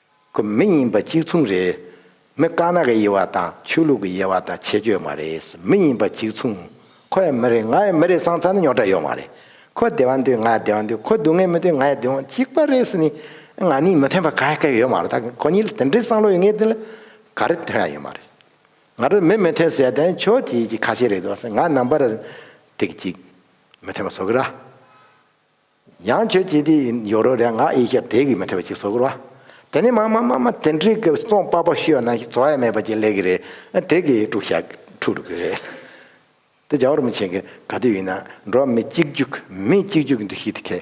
ཁོ་མི་ཡིན་པ་གཅིག་མཚུངས་རེད། མི་དཀར་ནག་གི་དབྱེ་བ་དང་ཆོས་ལུགས་ཀྱི་དབྱེ་བ་དང་ཆེད་སྤྱོད་མ་རེད། མི་ཡིན་པ་གཅིག་མཚུངས། ཁོ་ཡང་མི་རེད་ང་ཡང་མི་རེད་སང་ཚར་ནི་ཉོག་དྲ་ཡོད་མ་རེད། ཁོ་བདེ་བ་འདོད་ང་ཡང་བདེ་བ་འདོད་ཁོ་སྡུག་བསྔལ་མི་འདོད་ང་ཡང་སྡུག་བསྔལ་གཅིག་པ་རེད་ནི། ང་ནི་མི་མཐུན་པ་ག་ཡ་ག་ཡོད་མ་རེད་ད་ཁོ་གཉིས་ལ་དེ་འདྲའི་བསམ་བློ་ཡོད་ངེས་དེ་ལ་ག་རེ་མཐུན་ཡ་ཡོད་མ་རེད། ང་ཚོ་མི་མི་མཐུན་ཟེར་ཡ་དོན་ཆོས་དེ་གཅིག་ཁ་ཤས་རེད་འདུག་ང་རྣམ་པར་དེ་གཅིག་མི་མཐུན་པ་བཟོ་གི་ར། ཡང་ཁྱོད་ཀྱིས་དེ་ཡིན་ཡོ་རོ་རེ་ང་ཨེ་ཤ་བདེ་གི་མི་ཁྲི་བ་ཅིག་བཟོ་དགོས་ར། དེ་ནི་མ་མ་མ་མ་དེ་འདྲི་གི་སོང་པ་པོ་ཤོད་ན་བཟོ་ཡ་མེད་པ་ཅིག་ལས་གི་རེ་དེ་གི་དཀྲུག་ཤ་འཁྲུག་རུ་གི་རེ། དེ་ཇའོ་རོ་མི་ཆེན་གི་ག་དུས་ཡིན་ན་འགྲོ་མི་གཅིག་རྒྱུག་མི་གཅིག་རྒྱུག་གི་འདུ་ཤེས་དེ་ཁེ།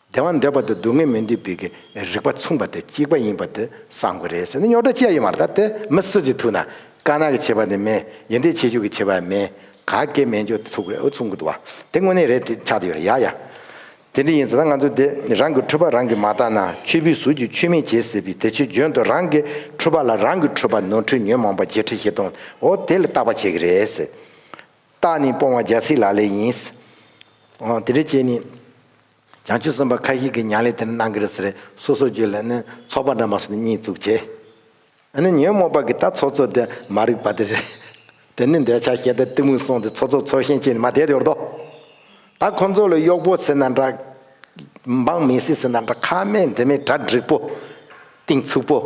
བདེ་བ་འདོད་པ་དང་སྡུག་བསྔལ་མི་འདོད་པའི་གི་རིག་པ་མཚུངས་པ་དེ་གཅིག་པ་ཡིན་པ་དེ་བསམ་གི་རེ་ཟེར་ན་ཉོག་དྲ་ཅི་ཡ་ཡོད་མ་རེད་ད་དེ་མི་སུ་ཅིག་ཐུག་ན། དཀར་ནག་གི་བྱེད་པ་ནི་མེད་ཡེ་འབྲས་ཆེ་ཤོས་ཀྱི་བྱེད་པ་ཡང་མེད་ག་སྐད་མེད་འཇོག་དེ་ཚུགས་རེད་ཨོ་ཚུགས་མགོ་འདུག་བ་དེ་དངོས་གནས་རེད་དེ་ཆགས་དེ་ཡོད་རེད་ཡ་ཡ། དེ་འདྲ་ཡིན་ཟེར་ན་ང་ཚོ་དེ་རང་གི་འཕྲོད་པ་རང་གིས་མ་བཏང་ན་ཆོས་བུའི་ཟུར་གྱིས་ཆོས་མེད་བྱེད་ཟེར་བའི་དེ་ཆོས་འཇོན་ཏོ་རང་གི་འཕྲོད་པ་ལ་རང་གིས་འཕྲོད་པ་ནོར་འཁྲུལ་ཉོན་མོངས་པ་བརྗེད་ཁྲི་བཞི་སྟོང་འོ་དེ་ལ་བརྟག་པ་བྱེད་ཀྱི་རེད། རྟགས་ནི་སྤོང་བ་རྒྱལ་སྲིད་ལ་ལས་ཡིན། འོ་དེ་འདྲ་བྱས་ནས་བྱང་ཆུབ་སེམས་དཔའ་ཁ་ཤས་ཀྱིས་མྱང་ལས་དེ་འདྲ་གནང་གི་རེད་ཟེར་སོ་སོ་རྗོད་ལ་ནི་ཚོགས་པ་འདྲ་མ་སོང་ནི་གཉིད་བཙུགས་བྱས། ཨ་ནི་ཉོན་མོངས་པ་གི་ད་ཚོགས་ཚོགས་དེ་མ་རིག་པ་དེ་རེད། དེ་ནི་འདོད་ཆགས་ཞེ་ད་གཏི་མུག་སོང་སྟེ་ཚོགས་ཚོགས་ཚོགས་ཞེན་ཅན་ནི་མ་དད་ཡོད་དོ། ད་ཁོ་ཚོ་ལ་གཡོག་པོ་ཟེར་ན་འདྲ། འབངས་མི་སྲིད་ཟེར་ན་འདྲ་ཁ་སྨྲས་འདི་མི་གྲ་འགྲིག་པོ། གཏིང་ཚུགས་པོ།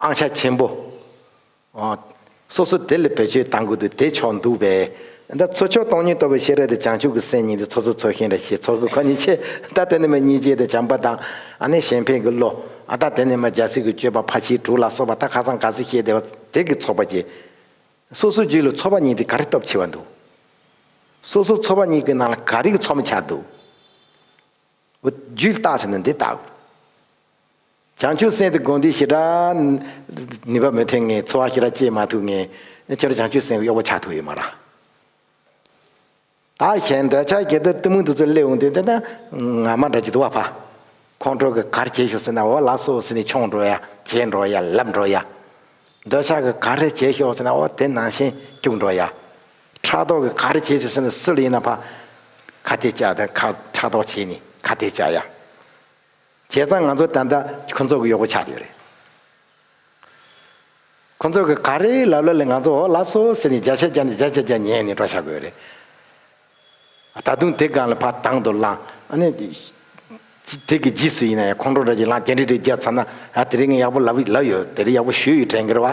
ཨང་ཆ་ཆེན་པོ། སོ་སོ་དེ་ལས་བེད་སྤྱོད་བཏང་དགོས་དུས་དེ་ཆོག་འདུག་པས། ད་ཚོ་ཆོག་སྟོང་ཉིད་རྟོགས་པའི་ཤེས་རབ་དེ་བྱང་ཆུབ་ཀྱི་སེམས་ཉིད་དེ་ཚོ་ཚོ་ཚོ་ཤིང་ར་ཞེས་ཚོགས་ཀྱི་ཁོ་ནས་ཆེ། ད་དེ་ནས་མ་སྙིང་རྗེ་དང་བྱམས་པ་དང། ཨ་ནེ་གཞན་ཕན་གྱི་བློ། ད་དེ་ནས་མ་རྒྱལ་སྲིད་ཀྱི་སྤྱོད་པ་ཕ་ཁྱིའི་དྲུག་ལ་སོགས་པ་ད་ཁ་སང་ག་ཚེ་བཤད་བདེ་བ་དེ་གི་ཚོགས་པ་བརྒྱད། སོ་སོའི་རྒྱུད་ལ་ཚོགས་པ་གཉིས་དེ་ག་རེ་སྟོབས་ཆེ་བ་འདུག། སོ་སོའི་ཚོགས་པ་གཉིས་ཀྱི་ནང་ལ་ག་རེ་གི་ཚོགས་མི་ཆགས་འདུག། རྒྱུད་བཏགས་ཟེར་ན་འདི་བཏགས་དགོས། བྱང་ཆུབ་སེམས་དེ་དགོངས་འདུས་ཞེ་དྲག། ནུས་པ་མི་ཐོན་ངེས་འཚོ་བ་ཤེས་རབ་སྐྱེས་མ་ཐུབ་ངེས། ཁྱོད་རང་བྱང་ཆུབ་སེམས་གཡོག་པོ་ཆགས་ཐུབ་ཡོད་མ་རང། བདག་གཞན་འདོད་ཆགས་ཀྱི་གཏི་མུག་འདི་ཚོ་སླེབས་འོང་དུས་འདི་ན་ང་མ་འདྲ་ཅི་འདུག་བ་ཕ། ཁོང་ཁྲོ་གི་གར་བྱེད་ཤོག་ཟེར་ན་འོ་ལགས་སོ་ཟེར་ནས་མཆོངས་འགྲོ་ཡ་བྱེད་འགྲོ་ཡ་ལབ་འགྲོ་ཡ། འདོད་ཆགས་ཀྱི་གར་རེ་བྱེད་ཤོག་ཟེར་ན་འོ་དེ་ནང་བཞིན་སྐྱུག་འགྲོ་ཡ། ཕྲག་དོག་གི་ག་རེ་བྱེད་ཟེར་སོང་ནས་སུ་ལ་ཡིན་ན་ཕ། ཁ་ཐེ་ཅག་དེ་ཁ་ཕྲག་དོག་བྱེད་ནི་ཁ་ཐེ་ཅག་ཡ། བྱས་ཙང་ང་ཚོ་ད་ལྟ་ཁོ་ཚོ་གི་གཡོག་པོ་ཆགས་ཡོད་རེད། ཁོ་ཚོ་གི་ག་རེ་ལབ་ལ་ལས་ང་ཚོ་འོག་ལ་སོ་ཟེར་ནས་རྒྱ་ཆ་རྒྱ་ནས་རྒྱ་ཆ་རྒྱ་ཉན་ནས་འགྲོ་ཆགས་དགོས་རེད། ད་དུང་དེ་སྒང་ལ་ཕ་དང་དུ་བླངས་ཨ་ནི། དེ་གི་རྗིས་སུ་ཡིན་ན་ཡང་ཁོང་ཁྲོ་འདྲ་ཅིག་ལངས་རྒྱ་འདྲི་འདྲི་རྒྱག་ཚར་ན་ཨ་དེ་རིང་ཡག་པོ་ལབ་ཡོད་དེ་རིང་ཡག་པོ་ཞུས་ཡོད་དྲན་གི་རེད་བ།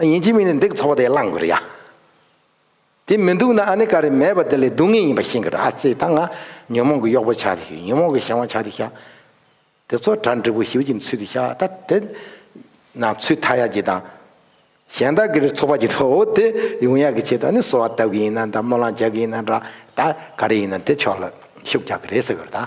ཡིན་གཅིག་མིན་ནས་འདི་གི་ཚོགས་པ་དེ་བླངས་དགོས་རེད་ཡ། དེ་མི་འདུག་ན་ཨ་ནེ་ཀ་རེ་མེད་པ་དེ་ལས་སྡུག་ངེས་ཡིན་པ་ཤེས་དགོས་རེད་ཨ་ཙེ་ད་ང་ཉོན་མོངས་ཀྱི་གཡོག་པོ་ཆགས་ཏེ་ཉོན་མོངས་ཀྱི་གཞན་དབང་ཆགས་ཏེ་ཤག་དེ་ཚོ་གྲ་འགྲིག་པོ་ཞིབ་ཀྱི་ཚུལ་དུ་ཤག་ད་དེ་ན་ཚུལ་མཐའ་ཡག་གྱི་དང། གཞན་དག་གི་རེ་ཚོགས་པ་གྱི་ཐོག་འོ་དེ་ཡོང་ཡག་གི་ཆེད་དུ་ཨ་ནེ་གསོལ་བ་བཏབ་གི་ཡིན་ན་ད་སྨོན་ལམ་བྱ་གི་ཡིན་ན་འདྲ་ད་ག་རེ་ཡིན་ན་དེ་ཕྱོགས་ལ་ཤུགས་རྒྱག་གི་རེད་ཟེར་དགོས་རེད་ད།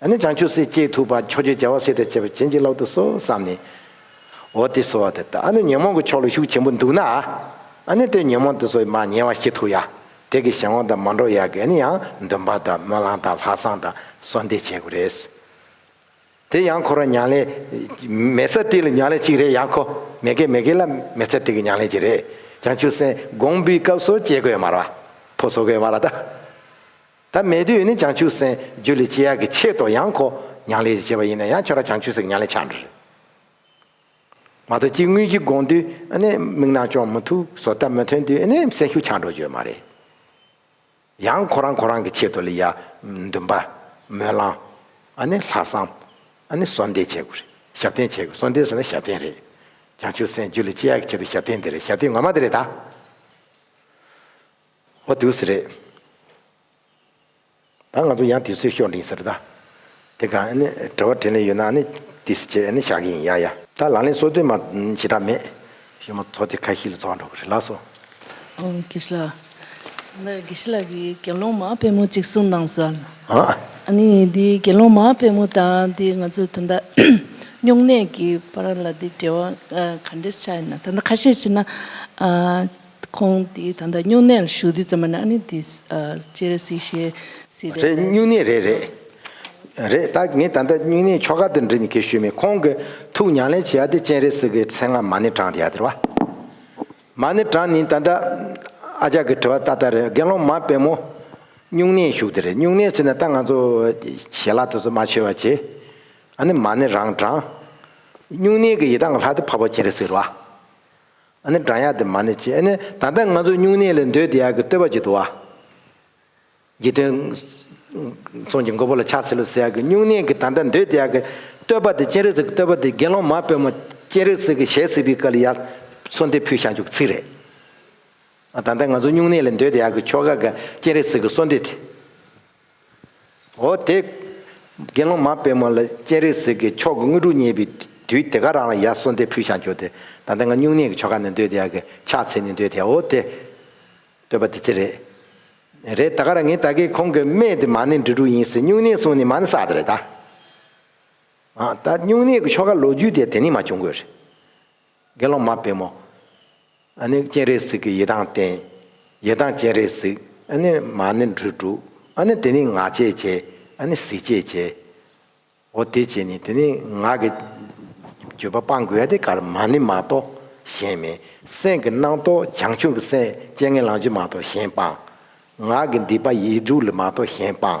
ནི་བྱང་ཆུབ་སེམས་བསྐྱེད་ཐུབ་པ་མཆོག་རྒྱུད་རྒྱལ་བ་སྲས་དེར་བྱེད་པ་བྱིན་གྱིས་བརླབ་ཏུ་གསོལ་བསམ་ནས། འོ་དེ་གསོལ་བ་དེ་ལྟ་ཨ་ནི་ཉོན་མོངས་ཀྱི་ཕྱོགས་ལ་ཤུགས་ཆེན་པོ་འདུག་ན། ཨ་ནི་དེར་ཉོན་མོངས་དེ་ཚོ་མ་ཉལ་བ་ཤེས་ཐུབ་ཡ། དེ་གི་གཞན་དབང་དང་མ་འགྲོགས་ཡ་གི་ཨ་ནི་ཡང་འདོན་པ་དང་སྨོན་ལམ་དང་ལྷག་བསམ་དང་གསོལ་འདེབས་བྱེད་དགོས་རེད། དེ་ཡང་འཁོར་བ་མྱང་ལས། མེ་བཙའ་སྟེགས་ལ་མྱང་ལས་གཅིག་རེད་ཡ་འཁོ། མེ་གེ་མེ་གེ་ལ་མེ་བཙའ་སྟེགས་ཀྱི་མྱང་ལས་གཅིག་རེད། བྱང་ཆུབ་སེམས་དགོངས་འབུལ་སྐབས་སོ་སྐྱེ་གོས་དམར་བ། ཕོ་སོ་གོས་དམར་བ་དང། ཐ་མལ་དུས་ནི་བྱང་ཆུབ་སེམས་རྒྱུད་ལས་སྤྱི་ཡག་གི་ཆེད་དུ་ཡང་ཁོ་ཉང་ལས་ཀྱིས་བྱས་པ་ཡིན་ན་ཡང་ཁྱོད་རང་བྱང་ཆུབ་སེམས་ཀྱི་ཉང་ལས་ཆགས་འགྲོ་རེད། མ་གཏོགས་སྤྱི་དངུལ་གྱི་དགོངས་དུས་ནི་མིག་ནང་ཅོང་མི་ཐུག་བཟོ་ལྟ་མི་ཐོན་དུས་ནི་སེམས་ཤུགས་ཆགས་འགྲོ་རྒྱུ་མ་རེད། ཡང་ཁོ་རང་ཁོ་རང་གི་ཆེད་དུ་ལི་ཡ། འདུན་པ། སྨོན་ལམ། ལྷག་བསམ། གསོལ་འདེབས་བྱེད་དགོས་རེད་ཞབས་བརྟན་བྱེད་དགོས་གསོལ་འདེབས་ཟེར་ན་ཞབས་བརྟན་རེད། བྱང་ཆུབ་སེམས་རྒྱུད་ལས་སྤྱི་ཡག་གི་ཆེད་དུ་ཞབས་བརྟན་འདི་རེད་ཞབས་བརྟན་ངོ་མ་འདི་རེད་ད། ཨོ་བདུད་ཟེར། རེད་ད་ང་ཚོ་ཡང་དུས་ཚོད་ཤོར་འགྲིངས་ཟེར་ད། དེ་ག་ནི་དྲི་བ་དྲིས་ལན་ཡོད་ན་ནི་དི་སི་བྱས་ནི་བཞག་གི་ཡིན་ཡ་ཡ། ད་ལག་ལེན་སོ་བདུན་མ་ཞེ་དྲག་མེད། གཞོན་མོ་ཚོ་དེ་ཁ་ཤིས་ལ་འཚོ་བ་འགྲོ་གི་རེད་ལགས་སོ། དགེ་བཤེས་ལགས། འདི་དགེ་བཤེས་ལགས་ཀྱི་དགེ་སློང་མ་དཔོན་མོ་གཅིག་གསུང་གནང་གསོལ། ཨ། ཨ་ནི་འདི་དགེ་སློང་མ་དཔོན་མོ་དང་འདི་ང་ཚོ་ད་ལྟ་སྨྱུང་གནས་ཀྱི་བར་ལ་འདི་འབྲེལ་བ་ག་འདྲས་ཆགས་ཡོད་ན་ད་ལྟ་ཁ་ཤས་བྱས་ན། ཁོང་དེ་ད་ལྟ་སྨྱུང་གནས་ལ་བཞུགས་དུས་ཙམ་མ་ནང་ནས་དེ་སྤྱིར་རེ་སི་ཤེ་སི་རེད། རེད་སྨྱུང་གནས་རེད་རེད། རེད་ད་ངས་ད་ལྟ་སྨྱུང་གནས་ཆོ་ག་འདི་འབྲི་ནས་གེ་ཞུས་མེད་ཁོང་གི་ཐུགས་མྱང་ལན་བྱེད་ཡ་དེ་སྤྱན་རེ་སི་གི་མཚན་སྔ་མ་ནི་དྲངས་དེ་ཡ་དེར་བ། མ་ནི་དྲངས་ནི་ད་ལྟ་ཨ་ཅག་གི་དྲི་བ་ཏག་ཏག་རེད་དགེ་སློང་མ་དཔལ་མོ། སྨྱུང་གནས་བཞུགས་དེ་རེད་སྨྱུང་གནས་བྱས་ནས་ད་ང་ཚོ་ཞལ་ལག་དེ་ཚོ་མ་ཆོད་བ་བྱས། ཨ་ནི་མ་ནི་རང་དྲངས། སྨྱུང་གནས་གི་ཡི་དྭགས་ལྷ་དེ་འཕགས་པ་སྤྱན་རེ་སིར་བ། ཨ་ནི་བགྲང་ཡག་དེ་མ་ནི་ཅི་ཨ་ནི་ད་ལྟ་ང་ཚོ་སྨྱུང་གནས་ལས་འདོད་དེ་ཡག་གི་བསྟོད་པ་ཅིག་འདུག་ཨ། དགེ་དོན། ཚོང་གི་མགོ་བོ་ལ་ཕྱག་འཚལ་ལོ་ཟེར་ཡག་གི་སྨྱུང་གནས་ཀྱི་ད་ལྟ་འདོད་དེ་ཡག་གི་བསྟོད་པ་དེ་སྤྱན་རས་གཟིགས་ཀྱི་བསྟོད་པ་དེ་དགེ་སློང་མ་དཔོན་མོ་སྤྱན་རས་གཟིགས་ཀྱི་ཞལ་གཟིགས་པའི་སྐལ་ལ་ཡར་ཚོ་འདི་ཕུལ་བཞག་འཇུག་གི་ཚིག་རེད། ད་ལྟ་ང་ཚོ་སྨྱུང་གནས་ལས་འདོད་དེ་ཡག་གི་ཆོ་ག་ག་སྤྱན་རས་གཟིགས་ཀྱི་གསོལ་འདེབས་དེ། འོ་དེ། དགེ་སློང་མ་པད་མོ་ལ་སྤྱན་རས་གཟིགས་ཀྱི་ཆོག་གི་དངོས་གྲུབ་བརྙེས་པའི་དུས་དེ་ག་རང་ལ་ཡར་གསོལ་འདེབས་ཕུལ་བྱར་གྱུར་ཏེ། ད་ལྟ་ང་སྨྱུང་གནས་ཀྱི་ཆོ་ག་ནི་འདོད་དེ་ཡ་གི་ཕྱག་འཚལ་ནི་འདོད་དེ་འོ་དེ། འདོད་པ་དེ་དེ་རེད། རེད་ད་ག་རང་ངས་ད་གིས་ཁོང་གི་སྨད་དེ་མ་ནི་འབྲི་དྲུག་ཡིན་སྲིད་སྨྱུང་གནས་གསུང་ནི་མ་ནི་གསག་དེ་རེད་ད། ད་སྨྱུང་གནས་ཀྱི་ཆོ་ག་ལོ་རྒྱུས་དེ་དེ་ནས་མ་བྱུང་དགོས་རེད། དགེ་སློང་མ་བེམ་མོ། ཨ་ནི་སྤྱན་རས་གཟིགས་ཀྱི་ཡི་དྭགས་བསྟན། ཡི་དྭགས་སྤྱན་རས་གཟིགས་ཨ་ནི་མ་ནི་འབྲུ་དཀྲུག། ཨ་ནི་དེ་ནི་ང་ཅད་བྱས་ཨ་ནི་གཟིགས་ཅད་བྱས། འོ་དེ་བྱས་ནས་དེ་ནི་ང་གི། སྤྱོད་པ་སྤང་དགོས་ཨ་དེ་ཀར་མ་ནི་མ་གཏོགས་གཞན་མེད། སེམས་ཀྱི་སྣང་རྟོག་བྱང་ཆུབ་ཀྱི་སེམས་སྤྱན་ངན་ལང་གཅུ་མ་གཏོགས་གཞན་སྤང། ངག་གི་འདི་པ་ཡིད་དྲུག་ལས་མ་གཏོགས་གཞན་སྤང།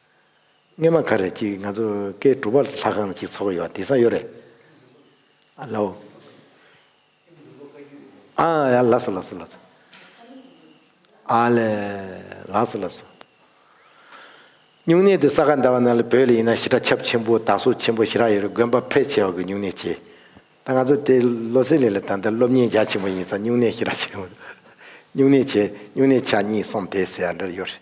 སྔས་མ་ག་རེད་ཅིག་ང་ཚོ་སྐད་སྒྲུབ་པ་ལྷ་ཁང་ཅིག་ཚོགས་ཡོད་དེ་སང་ཡོད་རེད། ཨ་ལོ། ཨ་ཡ་ལགས་སོ་ལགས་སོ་ལགས་སོ། ཨ་ལེ། ལགས་སོ་ལགས་སོ། སྨྱུང་གནས་དེ་ས་ག་ཟླ་བ་ན་ལ་བོད་ལ་ཡིན་ན་ཞི་དྲ་ཁྱབ་ཆེན་པོ་དར་སོ་ཆེན་པོ་ཞི་རག་ཡོད་རེད་དགོན་པ་ཕལ་ཆེ་བ་གི་སྨྱུང་གནས་བྱས། ད་ང་ཚོ་དེ་ལོ་སེ་ལེ་ལ་ད་ལྟ་སློབ་གཉེར་རྒྱ་ཆེན་པོ་ཡིན་སང་སྨྱུང་གནས་ཞི་རག་ཆེན་པོ་སྨྱུང་གནས་བྱས་སྨྱུང་གནས་ཆ་གཉིས་གསུམ་དེ་ཟེར་ཡ་འདྲར་ཡོད་རེད།